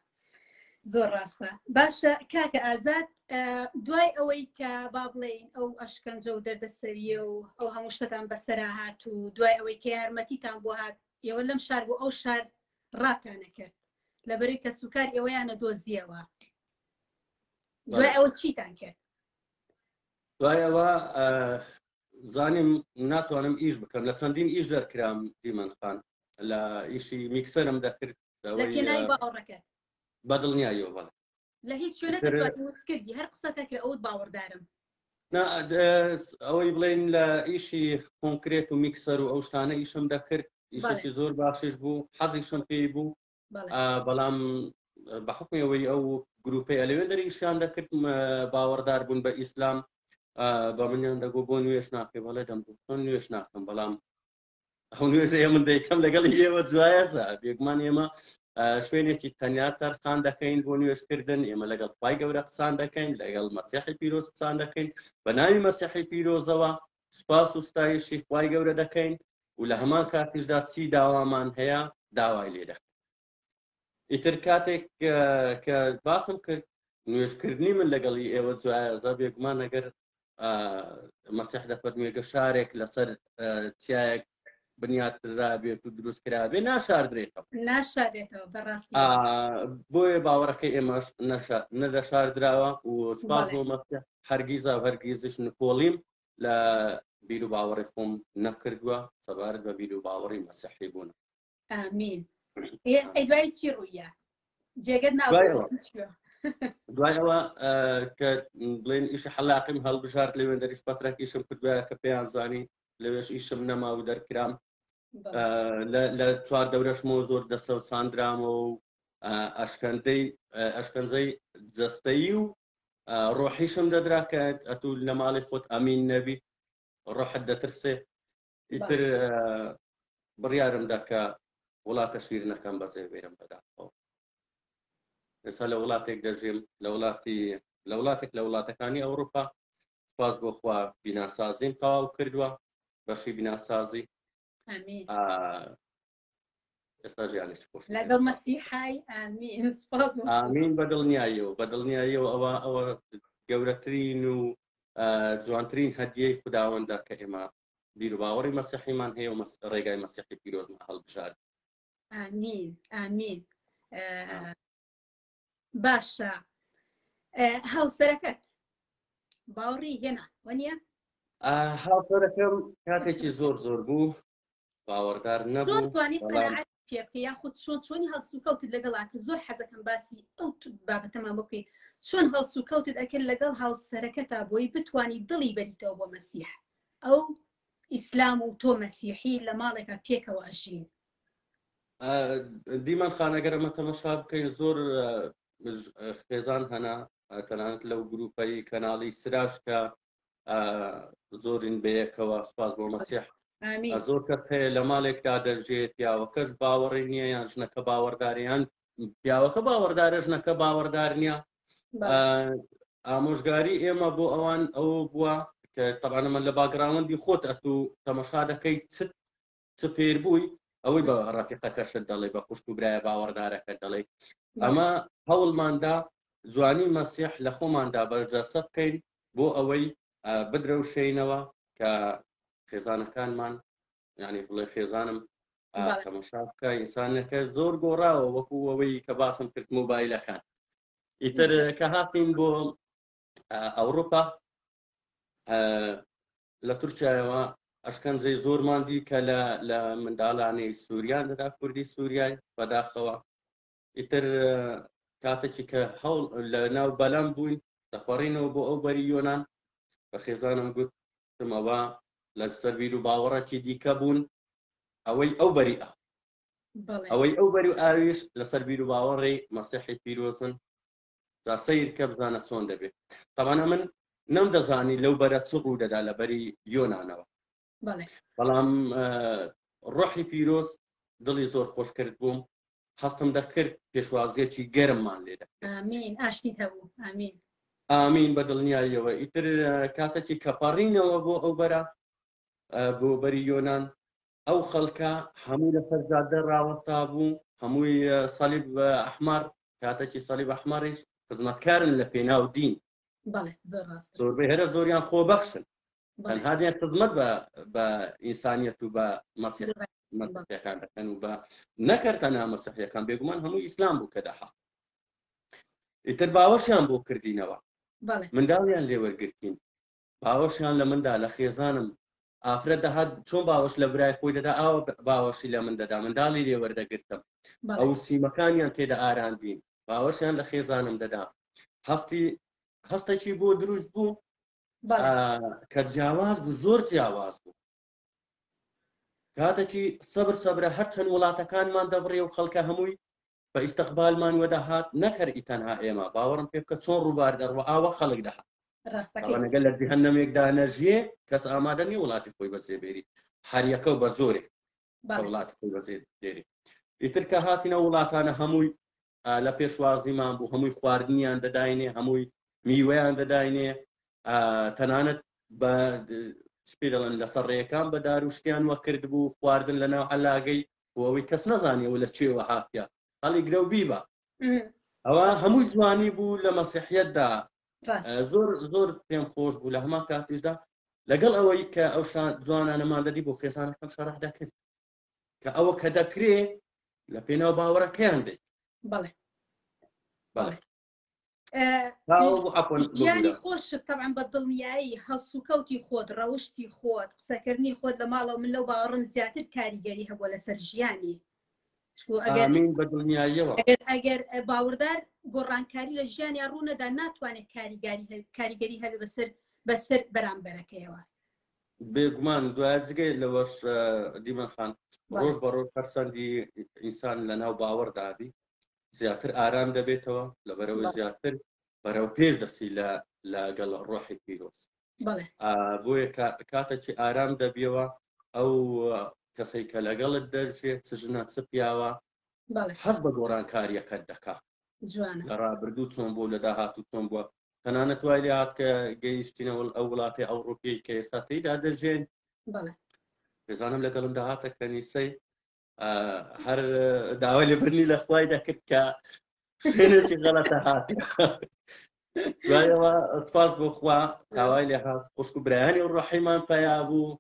زۆر ڕاستە باشە کاکە ئازاد دوای ئەوەی کە با بڵین ئەو ئەشکەنجە و دەردەسەریە و ئەو هەموو شتتان بەسرا هات و دوای ئەوەی کە یارمەتیتان بۆ هات ئێوە لەم شار بۆ ئەو شار ڕاتانە کرد لەبەری کە سوکار ئێوەیانە دۆزیەوە دوای ئەوە چیتان کرد دوای ئەوە زانیم ناتوانم ئیش بکەم لە چەندین ئیش دەرکرام دیمەن خان لە ئیشی میکسەرم دەکرد لە پێناوی باوەڕەکەت بە دڵنیاییەوە بەڵێ لە هیچ شوێنە تر- دەتوانم وس کردی هەر قسە تەکرە ئەوت باوەڕدارم نا ئەد- ئەوەی بڵێن لە ئیشی کۆنکرێت و میکسەر و ئەو شتانە ئیشم دەکرد ئیشێکی زۆر باشیش بوو حەزیشم پێی بوو بەڵام بە حکمی ئەوەی ئەو گروپی ئەلوێن دەریشیان دەکرد باوەڕدار بوون بە ئیسلام بە منیان دەگو بۆ نوێش ناکەی بەڵێ دەم چۆن نوێش ناکەم بەڵام ئەو نوێژە من دەیکەم لەگەڵ ئێوە جوایەزە بێگومان ئێمە شوێنێکی تەنیا تەرخان دەکەین بۆ نوێشکردن ئێمە لەگەڵ خی گەورە قسان دەکەین لەگەڵ مەسیحی پیرۆز قسان دەکەین بە ناوی مەسیحی پیرۆزەوە سوپاس و ستایشی خوای گەورە دەکەین و لە هەمان کاتیشدا چی داوامان هەیە داوای لێ دەکەین ئیتر کاتێک کە باسم کرد نوێژکردنی من لەگەڵی ئێوە جوایەزە بێگومان ئەگەر مەسیح دەفەرموێگە شارێک لەسەر چیایەک بنیاتنرابێت و دروست کرابێ ناشاردرێتەوە ناشارێتەوە بەڕاستی بۆیە باوەڕەکە ئێمەش نەدەشاردراوە و سپاس بۆ مەکە هەرگیزا هەرگیزش نکۆڵیم لە بیر و باوەڕی خۆم نەکردووە سەبارەت بە بیر و باوەڕی مەسەحی بوون ئامین ئەی دوای چی ڕوویە جێگەت ناو دوای ئەوە. هیچ شوێ. دوای ئەوە ئە، کە بڵێن ئیشی حەلاقیم هەڵبژارد لەوێ دەریش پەترەک ئیشم کردوە کە پێیان زانی لەوێش ئیشم نەما و دەرکرام بەڵێ. ئە، لە- لە چوار دەورەشمەوە زۆر دەسەوساندرامەوە و ئە، ئەشکەندەی ئە، ئەشکەنجەی جەستەیی و ئە، ڕۆحیشم دەدرا کە ئەتوو لە ماڵی خۆت ئەمین نەبی ڕۆحت دەترسێ ئیتر بڕیارم دا کە وڵاتە شیرنەکەم بەجێ بێرم بەداخەوە ئێستا لە وڵاتێک دەژێم لە وڵاتی لە وڵاتێک لە وڵاتەکانی ئەوروپا سپاس بۆ خوا بیناسازیم تەواو کردووە بەشی بیناسازی ئێستا ژیانی چ خۆش لەگەڵ مەسیحای ئامین سپاس ئامین بە دڵنیاییەوە بە دڵنیاییەوە ئەوە ئەوە گەورەترین و جوانترین هەدیەی خداوەندە کە ئێمە بیر و باوەڕی مەسیحیمان هەیە و ڕێگای مەسیحی پیرۆزمان هەڵبژار ئامین ئامین باشە هاوسەرەکەت باوڕی هێنا وەنیە؟ هاوسەرەکەم کاتێکی زۆر زۆر بوو باوەڕدار نەبوو پێبکە یاخود چۆن چۆنی هەڵسوکەوتت لەگەڵا کرد زۆر حەزەکەم باسی ئەو بابەتەمان بکەی چۆن هەڵسوکەوتت ئەکرد لەگەڵ هاوسەرەکە تا بۆی بتانی دڵی بەریتەوە بۆ مەسیح ئەو ئیسلام و تۆ مەسیحی لە ماڵێکە پێکەوە ئەژین دیمەن خان ئەگەر ئەمە تەمەشا بکەین زۆر خێزان هەنا تەنانەت لەو گروپەی کەناڵی سراش کە زۆرین بەیەکەوە سپاس بۆ مەسیح زۆر کەس هەیە لە مالێکدا دەژێت پیاوەکەش باوەڕی نییە یان ژنەکە باوەڕداریان پیاوەکە باوەڕدارە ژنەکە باوەڕدار نییە ئامۆژگاری ئێمە بۆ ئەوان ئەو بووە کە تەبانە من لە باگراوەندی خۆت ئەتوو تەمەشا دەکەیت چت سوپێر بووی ئەوەی بە ڕەفیقەکەشت دەڵێ بە خوشک و برایە باوەڕدارەکە دەڵێ ئەمە هەوڵماندا جوانی مەسیح لە خۆماندا بەرجەسە بکەین بۆ ئەوەی بدرەوشینەوە کە خێزانەکانمان ینی بڵێ خێزانم تەمەشاکە ئینسانەکە زۆر گۆڕاوە وەکو ئەوەی کە باسم کرد مۆبایلەکان ئیتر کە هاتین بۆ ئەوروپا لە تورکیایەوە ئەشکەنجەی زۆرمان دی کە لە لە منداڵانی سووریا لەدا کوردی سووریای بەداخەوە ئیتر کاتێکی کە هەوڵ لە ناو بەلام بووین دەپەڕینەوە بۆ ئەو بەری یۆناان بە خێزانم گوت تمەوە لە سەربیر و باوەڕێکی دیکە بوون ئەوەی ئەو بەری ئەو ئەوەی ئەو بەری و ئاویش لەسەر بیر و باوەڕی مەسیحی پیرۆزن جا سەیر کە بزانە چۆن دەبێ تابان ئەمن نەم دەزانی لەو بەرە چ ڕوو دەدا لە بەری یۆنانەوە بەڵام ڕۆحی پیرۆز دڵی زۆر خۆش کرد بووم هەستم دەکرد پێشوازیەکی گەرممان لێدا ئامین ئاشتی هەبوو ئامین ئامین بە دڵنیاییەوە ئیتر کاتەکی کەپەڕینەوە بۆ ئەو بەرە بۆ بەری یۆناان ئەو خەڵکە هەموو لەسەر جادە ڕاوەستابوو، هەمووی سەلیب ئەحمەر، کاتەکی سەلیب ئەحمەریش خزمەتکارن لە پێناو دین. بەڵێ زۆر ڕاستە. زۆربەی هەرە زۆریان خۆبەخشن. بەڵێ. تەنها دێن خزمەت بە بە ئینسانیەت و بە مەسیح بەڵێ. مەسیحیەکان دەکەن و بە نەکەر تەنها مەسیحیەکان بێگومان هەموو ئیسلام بوو کە دەهات. ئیتر باوەشیان بۆ کردینەوە. بەڵێ. منداڵیان لێ وەرگرتین. باوەشیان لە من دا، لە خێزانم. ئافرەت دەهات چۆن باوەش لە برای خۆی دەدا، ئاوا باوەشی لە من دەدا، منداڵی لێ وەردەگرتم. ئەو سیمەکانیان تێ دەئاراندین. باوەشیان لە خێزانم دەدا. هەستی هەستێکی بۆ دروست بوو کە جیاواز بوو، زۆر جیاواز بوو. کاتەکی سەبر سەبرە هەر چەند وڵاتەکانمان دەبڕێ و خەڵکە هەمووی بە ئیستقبالمان وە دەهات نەک هەر ئی تەنها ئێمە باوەڕم پێ بکە چۆن ڕووبار دەڕوا ئاوا خەڵک دەهات ڕاستەکەی ئەوانەگە لە جهنمێکدا نەژیێ کەس ئامادە نیە وڵاتی خۆی بەجێ بێری هەر یەکە و بە زۆرێ بەڵێ وڵاتی خۆی بەجێ دێری ئیتر کە هاتینە وڵاتانە هەمووی لە پێشوازیمان بوو هەمووی خواردنیان دەداینێ هەمووی میوەیان دەداینێ تەنانەت بە پێ دەڵێن لەسەر ڕێەکان بە داروشتیان وە کرد بوو خواردن لە ناو علاگەی بۆەوەی کەس نەزانیەوە لە چێوە هاتە هەڵی گرە و بیبە ئەوە هەمووی جوانی بوو لە مەسیحەتدا زۆر زۆر پێم خۆش بوو لە هەما کاتیشدا لەگەڵ ئەوەی کە ئەو جوانانەمان دەدی بۆ خێزانەکەم شەرح دەکرد کە ئەوە کە دەکرێ لە پێناو باوەڕەکەیان دەی بەڵێ بەڵێ گیانی خۆشت تەعام بە دڵنیایی هەڵسوکەوتی خۆت ڕەوشتی خۆت قسەکردنی خۆت لە ماڵەوە من لەو باوەڕم زیاتر کاریگەری هەبووە لەسەر ژیانی ئەگەر باوەڕدار گۆڕانکاری لە ژیانیان ڕوونەدا ناتوانێت کاریگەری هەبێ بەسەر بەسەر بەرامبەرەکەیەوە بێگومان دوایە جگەی لەوەش دیمەن خان ڕۆژ بە ڕۆژ هەرچەندی ئینسان لە ناو باوەڕ دابی زیاتر ئارام دەبێتەوە لەبەرەوەی زیاتر بەرەو پێش دەسی لە لەگەڵ ڕۆحی پیرۆز بۆیە کاتەکی ئارام دەبیەوە ئەو کەسەی کە لەگەڵت دەرجێ چ ژنە چ پیاوە حەز بە گۆڕانکاریەکەت دەکا لە ڕابردوو چۆن بۆ لە داهاتوو چۆن بووە تەنانەت وای لێ هات کە گەیشتینە ئەو وڵاتی ئەوڕوپیەی کە ئێستا تێیدا دەژێن دەزانم لەگەڵم داهاتە کەنیسەی هەر داوای لێبرنی لە خوای دەکرد کە شوێنێکی غەڵەتە هاات دوایەوە سپاس بۆ خوا داوای لێ هاات خوشک و برایانی و ڕحیمان پیا بوو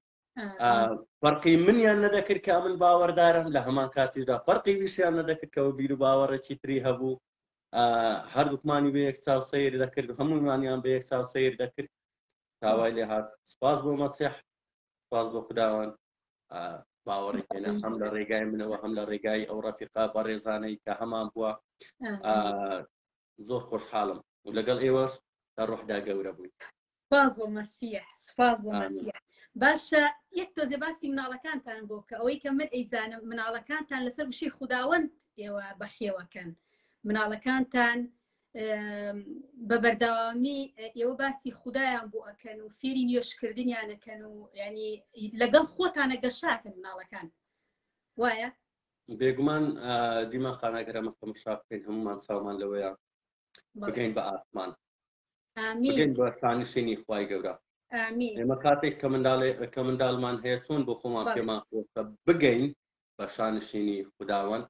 فەرقی منیان نەدەکرد کە من باوەدارم لە هەمان کاتیشدا فەرقی ویشیان نەدەکردەوە بیر و باوەڕێکی تری هەبوو هەردووکمانی بە یەک چاو سیر دەکرد هەموومانیان بە یەک چاو سیر دەکرد تاوای لێ هاات سپاس بۆ مەسیح سپاس بۆ خداوان باوەڕی هێنا هەم لە ڕێگای منەوە هەم لە ڕێگای ئەو ڕەفیقا بەڕێزانەی کە هەمان بووە زۆر خۆشحاڵم و لەگەڵ ئێوەش لە ڕۆحدا گەورە بووین. سپاس بۆ مەسیح سپاس بۆ مەسیح باشە یەک تۆزێ باسی مناڵەکانتان بۆ بکە ئەوەی کە من ئەیزانم مناڵەکانتان لەسەر وشەی خوداوەند ئێوە بەخێوەکەن مناڵەکانتان بە بەردەوامی ئێوە باسی خدایان بۆ ئەکەن و فێری نوێشکردنیانەکەن و ینی لەگەڵ خۆتانە گەشاکەن مناڵەکان وایە بێگومان دیمەخان ئەگەر ئەمە تەمەشا بکەین هەمومان چاومان لەوەیە بگەین بە ئاسمان بگەین بە شانشینی خوای گەورە ئێمە کاتێک کە منداڵێ کە منداڵمان هەیە چۆن بۆ خۆمان پێمان خۆشە بگەین بە شانشینی خودداوەند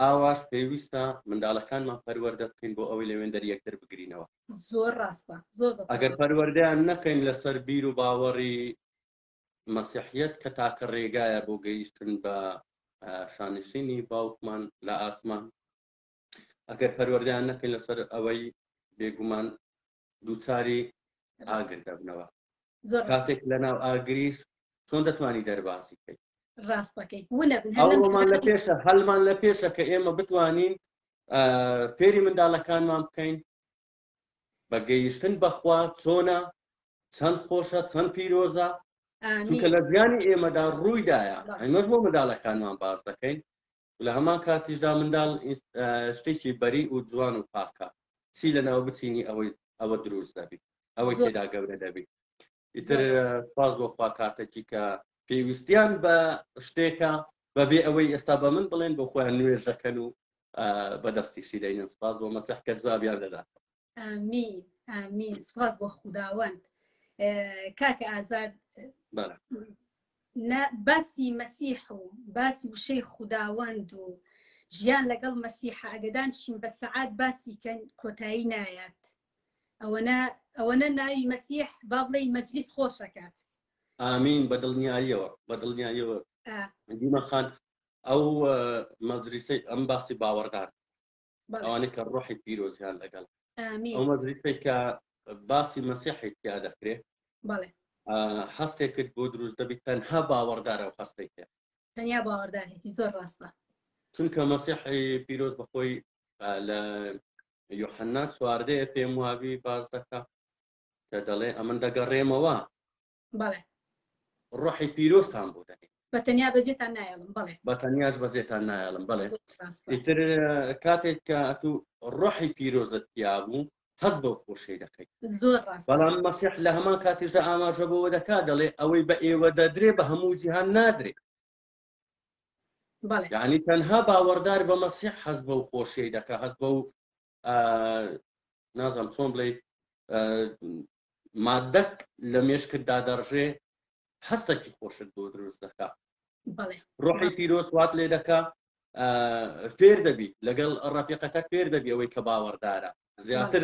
ئاواش پێویستە منداڵەکانمان پەروەەردە بکەین بۆ ئەوەی لەوێن دەر یەکتر بگرینەوە زۆر ڕاستە زۆر ئەگەر پەروەردەیان نەکەین لەسەر بیر و باوەڕی مەسیحیەت کە تاکە ڕێگایە بۆ گەیشتن بە شانشینی باوکمان لە ئاسمان ئەگەر پەروەردەیان نەکەین لەسەر ئەوەی بێگومان دووچاری ئاگر دەبنەوە کاتێک لە ناو ئاگریش چۆن دەتوانی دەربازی کەیت ڕاستەکەی هەڵمان لە پێشە هەلمان لە پێشە کە ئێمە بتوانین فێری منداڵەکانمان بکەین بە گەیشتن بە خوا چۆنە؟ چەند خۆشە چەند پیرۆزە چونکە لە ژیانی ئێمەدا ڕوویدایە ئەمەش بۆ منداڵەکانمان باس دەکەین لە هەمان کاتیشدا منداڵ شتێکی بەری و جوان و پاکە چی لە ناو بچینی ئەوەی ئەوە دروست دەبی ئەوەی تێدا گەورە دەبی ئیتر سپاس بۆ خوا کاتەکی کە پێویستیان بە شتێکە بەبێ ئەوەی ئێستا بە من بڵێن بۆ خۆیان نوێژەکەن و بەدەستی شیرەینم سپاس بۆ مەسەح کە جوابیان دەدات ئامین ئامین سپاس بۆ خوداوەند کاکە ئازاد باسی مەسیح و باسی وشەی خوداوەند و ژیان لەگەڵ مەسیحە ئەگەدان شین بە سەعات باسی کەن کۆتایی نایەت ئەوەنە ئەوەنە ناوی مەسیح با بڵێی مەجلیس خۆش ئەکات. ئامین بەدڵنیاییەوە بەدڵنیاییەوە ئا. دیمەن خان ئەو مەجلیسەی ئەم باسی باوەڕدار بەڵێ ئەوانەی کە ڕۆحی پیرۆزیان لەگەڵ ئەو ئامین مەجلیسەی کە باسی مەسیحی تیا دەکرێ بەڵێ ئا، هەستێکت بۆ دروست دەبی تەنها باوەڕدار ئەو هەستەی هەیە تەنیا باوەڕدار هەیەتی زۆر ڕاستە. چونکە مەسیحی پیرۆز بەخۆی ئا، لە یوحەنا چواردەیە پێم وابی باس دەکا کە دەڵێ ئەمن دەگەڕێمەوە. بەڵێ. ڕۆحی پیرۆزتان بۆ دەنێ. بە تەنیا بەجێتان نایەڵم بەڵێ. بە تەنیاش بەجێتان نایەڵم بەڵێ. ئیتر کاتێک کە ئەتو ڕۆحی پیرۆزت تیا بوو حەز بەو خۆشەی دەکەیت زۆر ڕاست بەڵام مەسیح لە هەمان کاتیشدا ئاماژە بەوە دەکات دەڵێ ئەوەی بە ئێوە دەدرێ بە هەموو جیهان نادرێ بەڵێ یعنی تەنها باوەڕدار بە مەسیح هەست بەو خۆشیی دەکا هەست بەو نازم چۆن بڵێ مادەک لە مێشکت دادەڕژێ هەستەکی خۆشت بۆ دروست دەکا بەڵێ ڕۆحی پیرۆز وات لێ دەکا فێر دەبی لەگەڵ ڕەفیقەکەت فێر دەبی ئەوەی کە باوەڕدارە زیاتر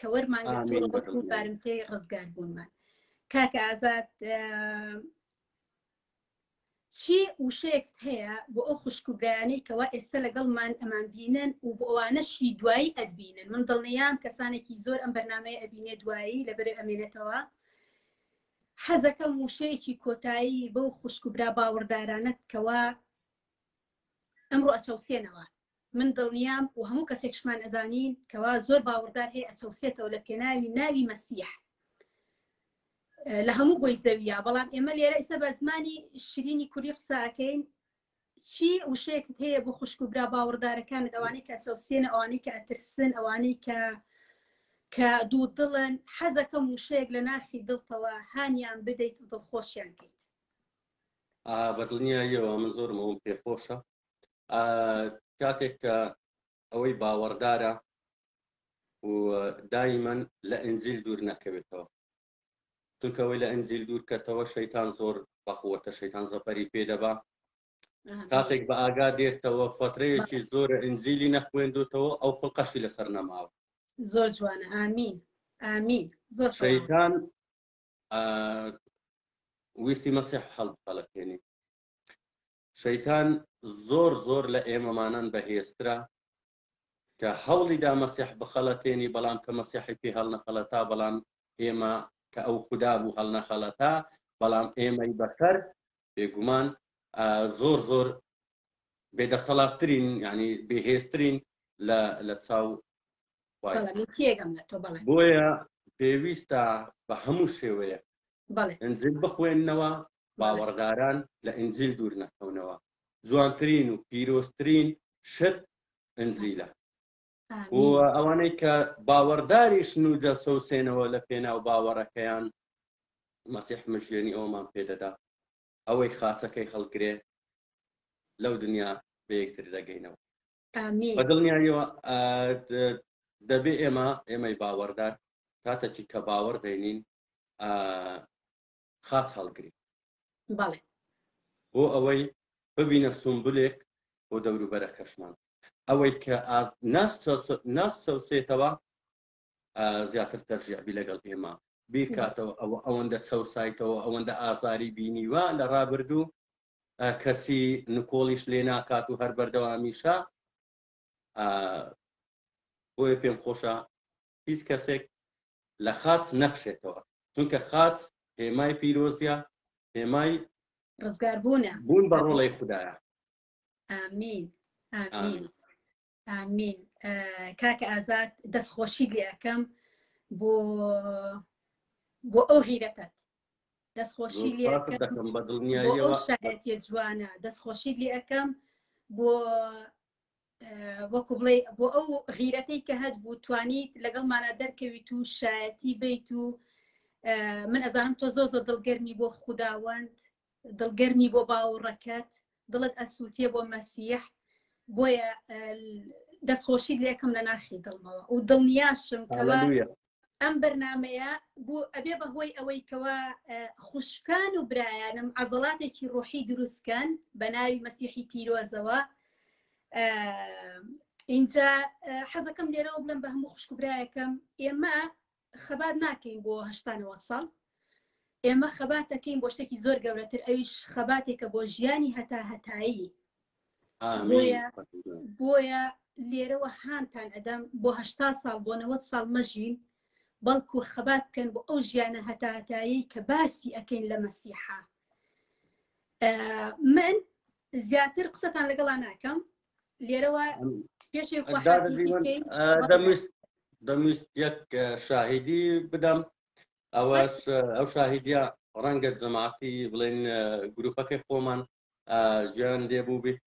کە وەرمان گرتووە وەکو بارمتەی ڕزگار بوونمان کاکە ئازاد چی وشەیەکت هەیە بۆ ئەو خوشک و برایانەی کەوا ئێستا لەگەڵمان ئەمان بینن و بۆ ئەوانەشی دوایی ئەدبینن من دڵنیام کەسانێکی زۆر ئەم بەرنمەیە ئەبینێ دوایی لەبەر ئەمێنێتەوە حەزەکەم وشەیەکی کۆتایی بەو خوشک و برا باوەڕدارانەت کەوا ئەمڕۆ ئەچەوسێنەوە من دڵنیام و هەموو کەسێکشمان ئەزانین کەوا زۆر باوڕدار هەیە ئەچەوسێتەوە لە پێناوی ناوی مەسیح لە هەموو گۆی زەویە بەڵام ئێمە لێرە ئیسە بە زمانی شرینی کوری قساکەین چی وشەیەکت هەیە بۆ خوشک و برا باوەڕدارەکان ئەوانەی کە چەوسێنە ئەوانەی کە ئەترسن ئەوانەی کە کە دوو دڵن حەزەکەم وشەیەک لە ناخی دڵتەوە هانیان بدەیت و دڵخۆشیان کەیت بە دڵنیاییەوە من زۆرمەوەم پێخۆشە کاتێک کە ئەوەی باوەڕدارە و دایمەن لە ئەنجیل دوور نەکەوێتەوە چونکەوەی لە ئەنجیل دوور کەتەوە شەیتان زۆر بەقوەتە شەیتان زەفەری پێدەبا کاتێک بە ئاگا دێتەوە فەترەیەکی زۆر ئەنجیلی نەخوێندوتەوە ئەو خڵقەشی لەسەر نەماوە زۆر جوانە ئامین ئامین زۆر شەیتان ویستی مەسیح هەڵ هەڵەکێنی شەیتان زۆر زۆر لە ئێمەمانان بەهێزترە کە هەوڵیدا مەسیح بخەڵەتێنی بەڵام کە مەسیحی پێ هەڵنەخەڵەتا بەڵام ئێمە کە ئەو خودا بوو هەڵنەخەڵەتا بەڵام ئێمەی بەسەر بێگومان زۆر زۆر بێدەستەڵاتترین ینی بێهێزترین لە چاو بۆیە پێویستە بە هەموو شێوەیە ئەنجل بخوێندنەوە باوەڕداران لە ئینجیل دوور نەکەونەوە جوانترین و پیرۆزترین شت ئنجیلە و ئەوانەی کە باوەڕداریش نوجە سەوسێنەوە لە پێناو باوەڕەکەیان مەسیح مژێنی ئەومان پێدەدا ئەوەی خاچەکەی هەڵگرێ لەو دنیا بەیەکتر دەگەینەوە بە دڵنیایەوە دەبێ ئێمە ئێمەی باوەڕدار کاتەکی کە باوەڕ دەینین خاچ هەڵگرین. بەڵێ. بۆ ئەوەی ببینە سونبولێک بۆ دەوروبەرەکەشمان. ئەوەی کە ئاز ناشچەوسێتەوە زیاتر تەرژیع بی لەگەڵ ئێمە بیکاتەوە ئەوە ئەوەندە چەوسایتەوە ئەوەندە ئازاری بینیوە لە ڕابردوو کەچی نکۆڵیش لێ ناکات و هەر بەردەوامیشە بۆیە پێم خۆشە هیچ کەسێک لە خاچ نەکشێتەوە چونکە خاچ هێمای پیرۆزیە هێمای ڕزگار بوونە بوون بە ڕۆڵەی خوددایە ئامین ئامین ئامین کاکە ئازاد دەستخۆشی لێ ئەەکەم بۆ بۆ ئەو غیرەتت دەستخۆشی لێ شایەتە جوانە دەستخۆشی لێ ئەەکەم بۆ وەکو بڵێ بۆ ئەو غیرەتەی کە هەت بوو توانیت لەگەڵمانە دەرکەویت و شایەتی بیت و من ئەزانم تۆ زۆ زۆ دڵگەرمی بۆ خودداوەند دڵگەرمی بۆ باوڕەکەت دڵت ئەسووتێ بۆ مەسیح بۆیە دەستخۆشی لێکم لە ناخی دڵمەوە و دڵنیاشم ئەم بەرنامەیە بۆ ئەبێ بەهۆی ئەوەی کەوا خوشکان و برایانم عەزەڵاتێکی ڕۆحی دروستکەن بە ناوی مەسیحی پیرۆزەوە اینجا حەزەکەم لێرەوە بڵم بە هەموو خوشک و برایەکەم ئێمە خەبات ناکەین بۆ هەشتانەوە ساڵ ئێمە خەباتەکەین بۆ شتێکی زۆر گەورەتر ئەویش خەباتێکە بۆ ژیانی هەتا هەتایی بۆیە لێرەوە هانتان ئەدەم بۆ هەشتا ساڵ بۆ نەوەت ساڵ مەژین بەڵکو خەبات بکەن بۆ ئەو ژیانە هەتاهتایی کە باسی ئەەکەین لە مەسیحا من زیاتر قسەتان لەگەڵا ناکەم لێرەوە پێشێ دەمویست یەک شاهیدی بدەم ئەوەش ئەو شاهیدە ڕەنگە جەماعتی بڵێن گروپەکەی خۆمان گوێیان لێ بوو بیت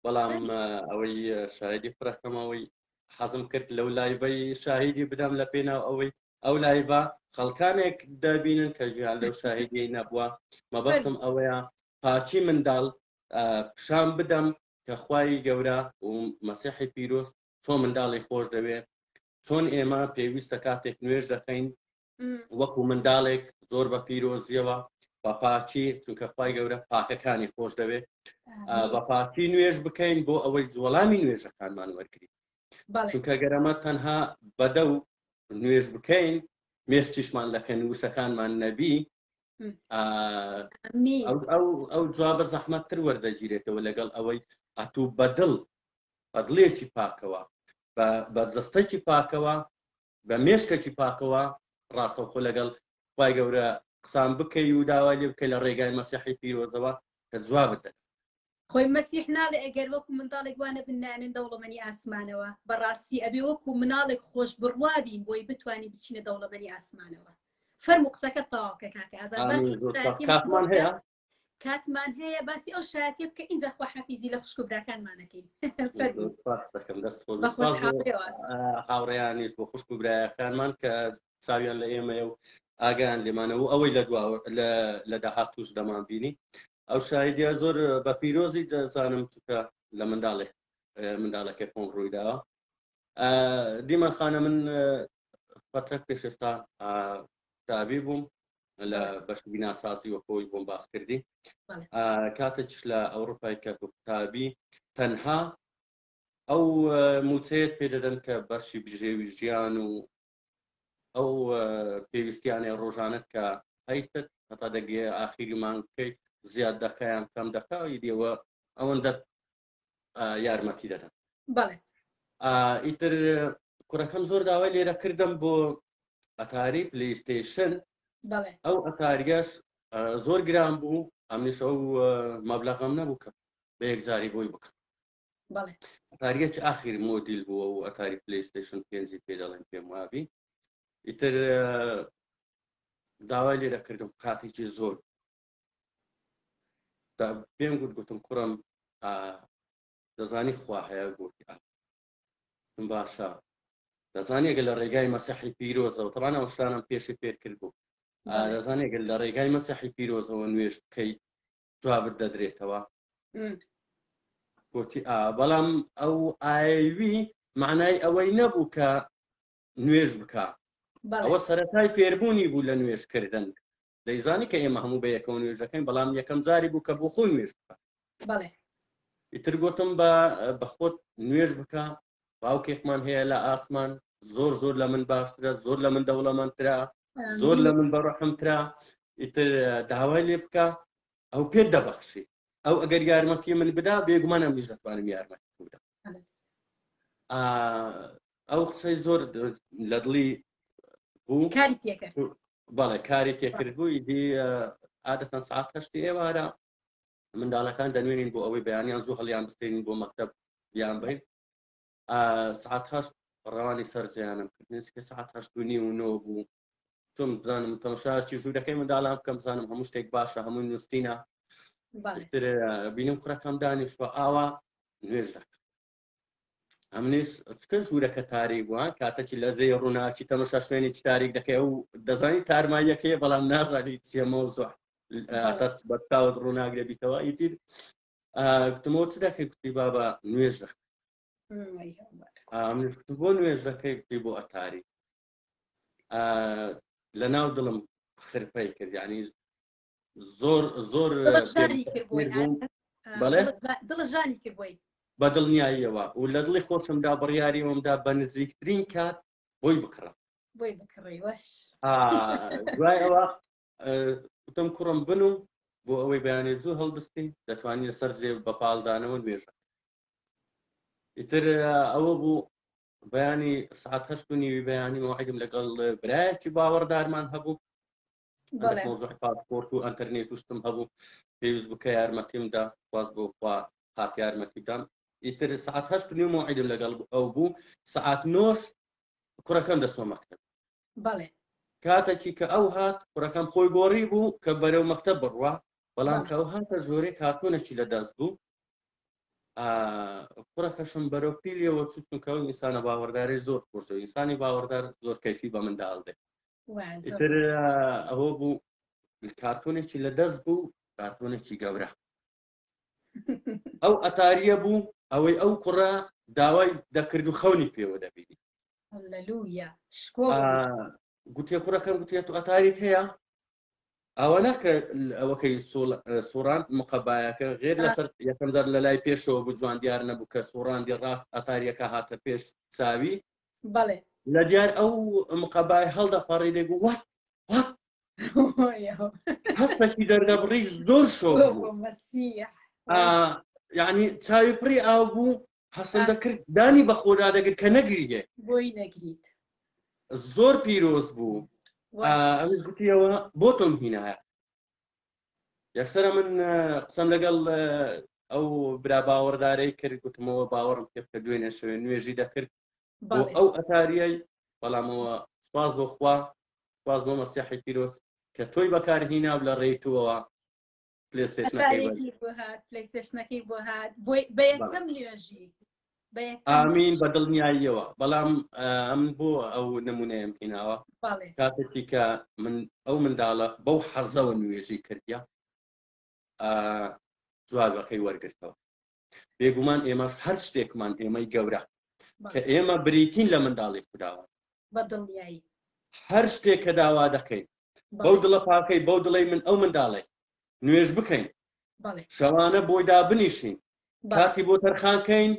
بەڵام ئەوەی شایدی فرەکەمەوەی حەزم کرد لەو لایبەی شاهیدی بدەم لە پێناو ئەوەی ئەو لایبە خەڵکانێک دەبینن کە گویان لەو شاهیدی نەبووە مەبەستم ئەوەیە پارچی منداڵ پیشان بدەم کە خوای گەورە و مەسیحی پیرۆست تۆ منداڵی خۆش دەوێت چۆن ئێمە پێویستە کاتێک نوێژ دەکەین وەکو منداڵێک زۆر بە پیرۆزیەوە بەپاچی چونکە خی گەورە پاکەکانی خۆش دەوێت بەپاچی نوێژ بکەین بۆ ئەوەی زۆڵامی نوێژەکانمان وەرگین چونکە گەرەمە تەنها بەدە و نوێژ بکەین مێشتیشمان لەکەن وشەکانمان نەبی ئەو جوابە زەحمەتتر وەردەگیرێتەوە لەگەڵ ئەوەی ئەتوو بەدڵ بەدڵێکی پاکەوە بە جستەکی پاکەوە بە مێشکەکی پاکەوە ڕاستەوخۆ لەگەڵ خوای گەورە قسان بکەی و داوای لێ بکەی لە ڕێگای مەسیحی پیرۆزەوە کە جوابت دەدات. خۆی مەسیح ناڵێ ئەگەر وەکو منداڵێک وا نەبن نایەنن دەوڵەمەنی ئاسمانەوە بەڕاستی ئەبێ وەکو مناڵێک خۆش بڕوا بین بۆی بتوانین بچینە دەوڵەمەنی ئاسمانەوە فەرموو قسەکەت تەواو کە کاکە ئازاد باسی کاکمان هەیە؟ کاتمان هەیە باسی ئەو شایەتە بکە ئینجا خواحافیزی لە خوشک و براکانمانەکەین هاوڕێیانیش بۆ خوشک و برایەکانمان کە چاویان لە ئێمەیە و ئاگیان لێمانەوە ئەوەی لە دوا لە داهات توش دەمان بینی ئەو شایدیا زۆر بە پیرۆزی دەزانم چکە لە منداڵێک منداڵەکەی خۆم ڕوویداوە دیمە خانە من فترەت پێش ئێستا تابی بووم لە بەشی بیناسازی وە خۆی بۆم باس کردی کاتێکش لە ئەوروپای کە قوتابی تەنها ئەو موچەیەت پێ دەدەن کە بەشی بژێوی ژیان و ئەو پێویستیانە ڕۆژانت کە هەیتت هەتا دەگێ ئاخیری مانگ بکەیت زیاد دەکەیان کەم دەکەی دێوە ئەوەندە یارمەتی دەدەن بەڵێ ئیتر کوڕەکەم زۆر داوای لێرە کردم بۆ ئەتاری پلیستیشن ئەو ئەتاریش زۆر گران بوو ئەمنیش ئەو مەبلغم نەبوو کە بە یەکجاری بۆی بکەم ئەتاریەک ئاخیر مۆدیل بووە و ئەتاری پلیستیشن پێنجی پێ دەڵێن پێم وابی ئیتر داوای لێرە کردم کاتێکی زۆر پێم گوت گوتم کوڕم دەزانی خوا هەیە گوتی من باشە دەزانێگە لە ڕێگای مەسەحی پیرۆزەوە تەبان ئەو شتانم پێشی پێر کرد بوو دەزانێگە لە ڕێگای مەسەحی پیرۆزەوە نوێش بکەی جوابت دەدرێتەوە گوتی ئا بەڵام ئەو ئاوی معنای ئەوەی نەبوو کە نوێژ بکە ئەوە سەرەتای فێربوونی بوو لە نوێژکردن دەیزانی کە ئێمە هەموو بەیەکەوە نوێژ دەکەین بەڵام یەکەم جاری بوو کە بۆ خۆی نوێژ بکە بەڵێ ئیتر گوتم بە بەخۆت نوێژ بکە باوکێکمان هەیە لە ئاسمان زۆر زۆر لە من باشترە زۆر لە من دەوڵەمەندترا زۆر لە من بەڕەحمترا ئیتر داوای لێ بکە ئەو پێت دەبەخشی ئەو ئەگەر یارمەتی من بدا بێگومانە منیش دەتوانم یارمەتی بوودا ئەو قسەی زۆر لە دڵی بوو کاری تێکرد بەڵێ کاری تێکرد بوو ئیدی عادەتەن سعات هەشتی ئێوارە منداڵەکان دەنوێنین بۆ ئەوەی بەیانیان زوو هەڵیان بستین بۆ مەکتب بیان بین سعات هەشت ڕەوانی سەرجیانم کردنسکە سعات هەشتنی و نۆ بوو چۆن بزانم تەمەشاچی ژوورەکەی منداڵان بکەم بزانم هەموو شتێک باشە هەمووی نووسینە بینم کوڕەکەم دانیشوە ئاوا نوێژ دەکە ئەمنیش چکە ژوورەکە تاریک بووە کاتەکی لە زێ ڕووناچی تەمەشا شوێنی تاریک دەکەی ئەو دەزانی تارماییەکەی بەڵام نازانی چێمەوە زۆر بەتاوت ڕووناک دەبیتەوە ئیدی گوتمەوە چ دەکەی کوتی بابا نوێژ دەکە بۆ نوێژەکەی بۆ ئەتاری لە ناو دڵم خرپەی کرد یعنی زۆر زۆر دڵژانی کرد بۆی بە دڵنیاییەوە و لە دڵی خۆشمدا بڕیاری ئەومدا بە نزیکترین کات بۆی بکڕە بۆی بکڕی وەش دوای ئەوە وتم کوڕم بن و بۆ ئەوەی بەیانێ زوو هەڵبستین دەتوانین سەر زێ بە پاڵدانەوە نوێژە ئیتر ئەوە بوو بەیانی سعات هەشت و نیوی بەیانی مەوعدم لەگەڵ برایەکی باوەڕدارمان هەبوو مۆزوعی پاسپۆرت و ئەتەرنێت وشتم هەبوو پێویست بکە یارمەتیمدا واز بۆ خوا هات یارمەتی بدەم ئیتر سعات هەشت نیو مۆعیدم لەگەڵ ئەو بوو سعات نۆش کوڕەکەم دەسۆ مەکتب بەڵێ کاتەکی کە ئەو هات کوڕەکەم خۆی گۆڕی بوو کە بەرەو مەکتب بڕوە بەڵام کە ئەو هاتە ژۆرێ کارتۆنەکی لە دەست بوو کوڕەکەشم بەرەو پیلیەوە چوو چونکە ئەو ئینسانە باوەڕدارەی زۆر خۆش دەوێت ئینسانی باوەڕدار زۆر کەیفی بە منداڵ دێت وای زۆر ئیتر بەسەر. آه، ئەوە بوو کارتۆنێکی لە دەست بوو کارتۆنێکی گەورە ئەو ئەتاریە بوو ئەوەی ئەو کوڕە داوای دەکرد و خەونی پێوە دەبینی هەلەلویا شکۆ آه، گوتێ کوڕەکەم گوتێ تو ئەتاریت هەیە ئەوەنە کە ئەوەکەی سوڕان مقەبایەکە غێر لەسەر یەکەم دەر لە لای پێشەوە بوو جوان دیار نەبوو کە سوڕاندی ڕاست ئەتاریەکە هاتە پێش چاوی بەڵێ لە دیار ئەو مقەبای هەڵدەپەڕی لێ بوو وەت وەت هەستەکی دەردەبڕی زۆر شۆ یعنی چاوی پڕی ئاو بوو هەستم دەکرد دانی بە خۆدا دەگرت کە نەگریێ بۆی نەگریت زۆر پیرۆز بوو ئەوش گوتیەوە بۆ تۆم هینایە یەکسرە من قسەم لەگەڵ ئەو برا باوەڕدارەی کرد گوتمەوە باوەڕم پێ بکە دوێنێ شوێن نوێژی دەکرد بۆ ئەو ئەتاریای بەڵامەوە سپاس بۆ خوا سپاس بۆ مەسیحی پیرۆز کە تۆی بەکارهینا و لە ڕێیتوەوە پلەیستێشنەکەی بۆ هات بە یەکەم نوێژی ئامین بە دڵنیاییەوە بەڵام ئەم بۆ ئەو نمونەیەم هیناوە کاتێکی کە من ئەو منداڵە بەو حەزەوە نوێژی کردیا جوابەکەی وەرگرتەوە بێگومان ئێمەش هەر شتێکمان ئێمەی گەورە کە ئێمە بریتین لە منداڵی خودداوە بەدڵنیایی هەر شتێک کە داوا دەکەین بەو دڵە پاکەی بەو دڵی من ئەو منداڵێک نوێژ بکەین شەوانە بۆی دابنیشین کاتی بۆ تەرخانکەین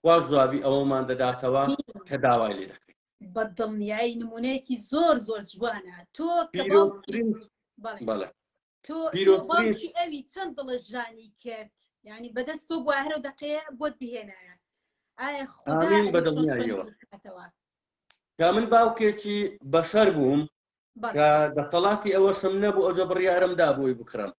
خواش جوابی ئەوەمان دەداتەوە کە داوای لێ دەکەین بە دڵنیایی نمونەیەکی زۆر زۆر جوانە تۆ بەڵێ تۆ باوکی ئەوی چەند دڵەژانی کرد ینی بەدەست تۆ بووە هەرو دەقەیە بۆت بهێنایە ئایا خوداەوە کا من باوکێکی بەشەر بووم کە دەسەڵاتی ئەوەشم نەبوو ئەوجە بڕیارم دا بۆی بکڕم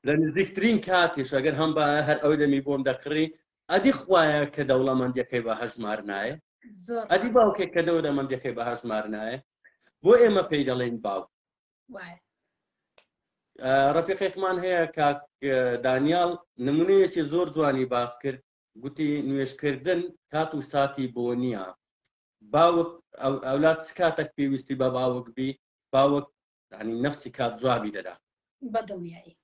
لە نزیکترین کاتیش ئەگەر هەم بە هەر ئەوی دەمی بۆم دەکڕی ئەدی خوایە کە دەوڵەمەندەکەی بە هەژمار نایە ئەدی باوکێک کە دەوە دەمەندەکەی بە هەژمار نایە بۆ ئێمە پێی دەڵێن باوک ڕەفیقێکمان هەیە کاک دانیال نمونەیەکی زۆر جوانی باس کرد گوتی نوێشکردن کات و ساتی بۆ نییە باوک ئەولاد چ کاتێک پێویستی بە باوک بی باوک ینی نفسی کات جوابی دەدا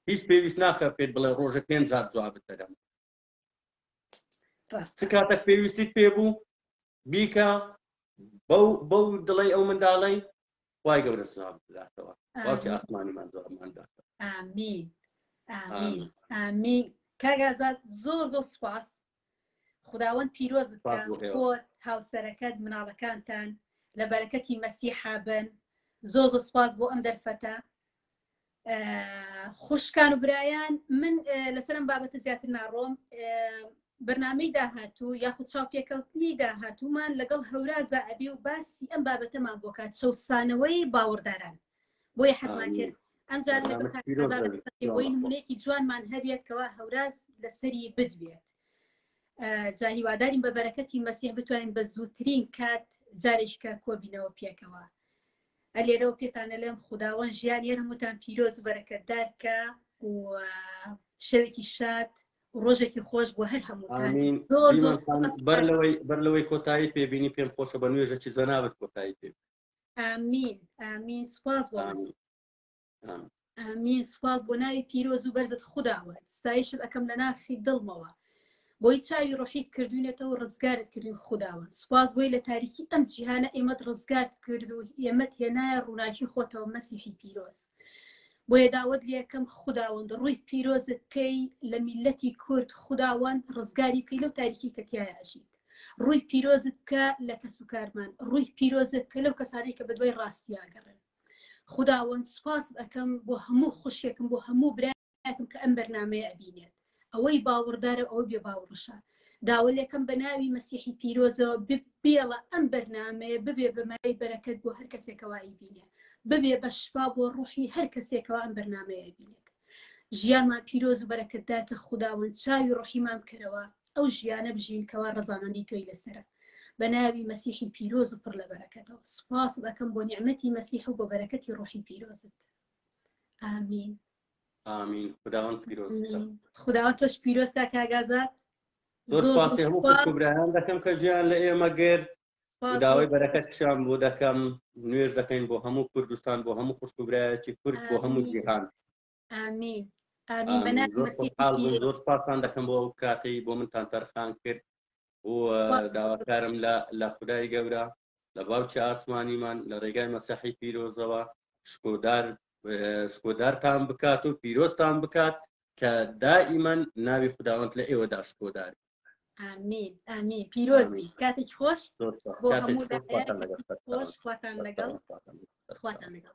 هیچ پێویست ناکە پێت بڵێ ڕۆژە پێنج جار جوابت دەدەم ڕاست چ کاتەک پێویستیت پێ بوو بیکە بەو بەو دڵی ئەو منداڵی وای گەورە سلام بداتەوە باوکی ئاسمانیمان زۆرمان داتەوە ئامین ئامین ئامین کاگازات زۆر زۆر سپاس خداوەند پیرۆزت خۆت هاوسەرەکەت مناڵەکانتان لە بەرەکەتی مەسیحابن زۆ زۆ سپاس بۆ ئەم دەرفەتە خوشکان و برایان من لەسەر ئەم بابەتە زیاتر ناڕۆم بەرنمەی داهاتوو یاخود چاوپێکەوتنی داهاتوومان لەگەڵ هەورازە ئەبی و باسی ئەم بابەتەمان بۆ کات چەسانەوەی باوەڕداران بۆیە حەزمان کرد ئەم جارەوەی نمونێکی جوانمان هەبێت کەوا هەوراز لەسەری بدوێت جاهیوادارین بە بەرەکەتی مەسیح بتوانین بە زووترین کات جارێککە کۆبینەوە پێکەوە ئە لێرەوە پێتان ئەلێم خوداوەند ژیانی هەر هەمووتان پیرۆز و بەرەکەتدار کا و شەوێکی شاد و ڕۆژێکی خۆش بۆ هەر هەمووتان ئامین زۆر دیمەن زۆر خان سوپاس بەر لەوەی بەر لەوەی کۆتایی پێبینی پێم خۆشە بە نوێژەکی جەنابت کۆتایی پێ ئامین ئامین سوپاس بۆ ئامین. مەسیح ئامین سوپاس بۆ ناوی پیرۆز و بەرزت خودداوە ستایشت ئەەکەم لە ناخی دڵمەوە بۆی چاوی ڕحیت کردوینێتەوە ڕزگارت کردوین خودداوە سوپاس بۆی لە تاریکی ئەم جیهانە ئێمەت ڕزگارت کرد و ئێمەت هێنایە ڕووناکی خۆتەوە مەسیحی پیرۆز بۆیە داوت لەکەم خودداوەند ڕووی پیرۆزت کەی لە میلەتی کورد خودداوەند ڕزگاری بکەی لەو تاریکی کەتیایە ئەژیت ڕووی پیرۆزت کە لە کەس و کارمان ڕووی پیرۆزت کە لەو کەسانی کە بەدوای ڕاستیاگەڕێن خوداوەند سوپاست ئەکەم بۆ هەموو خوشکێکم بۆ هەموو برایەکم کە ئەم بەرنامەیە ئەبینێت ئەوەی باوەڕدارە ئەوەی بێ باوڕشە داوەلێکەم بە ناوی مەسیحی پیرۆزەوە بێڵە ئەم بەرنمەیە ببێ بەمای بەرەکەت بۆ هەر کەسێکەوە ئەیبینێ ببێ بە شفا بۆ ڕوحی هەر کەسێکەوە ئەم بەرنمەیە ئەبینێت ژیانمان پیرۆز و بەرەکەتدار کە خودداوەند چاوی ڕحیمان بکەرەوە ئەو ژیانە بژین کەوا ڕەزامەندی تۆی لەسەرە بەناوی مەسیحی پیرۆز و پڕ لە بەرەکەتەوە سوپاست ئەکەم بۆ نیعمەتی مەسیح و بۆ بەرەکەتی ڕۆحی پیرۆزت ئامین ئامین خداوەند پیرۆز خداوەند تۆش پیرۆز کا کاگازات زۆر سپاسی هەموو کوبرایان دەکەم کە جیان لە ئێمە گرت داوای بەرەکەت شان بۆ دەکەم نوێش دەکەین بۆ هەموو کوردستان بۆ هەموو خوشکبرایەکی کورد بۆ هەموو جیهان ئامین ئامین بە ناوی زۆر مەسیح خۆشحاڵ بووم زۆر سپاسان دەکەم بۆ ئەو کاتەی بۆ منتان تەرخان کرد و داواکارم لە لە خدای گەورە لە باوکی ئاسمانیمان لە ڕێگای مەسەحی پیرۆزەوە شکۆدار شکۆدارتان بکات و پیرۆستان بکات کە دائیمەن ناوی خداوەند لە ئێوەدا شکۆدار ئامین ئامین پیرۆزبی کاتێکی خۆش زۆر سپاس. بۆ کاتێکی هەموو خۆشتان لەگەڵ. خۆش خواتان لەگەڵ خواتان لەگەڵ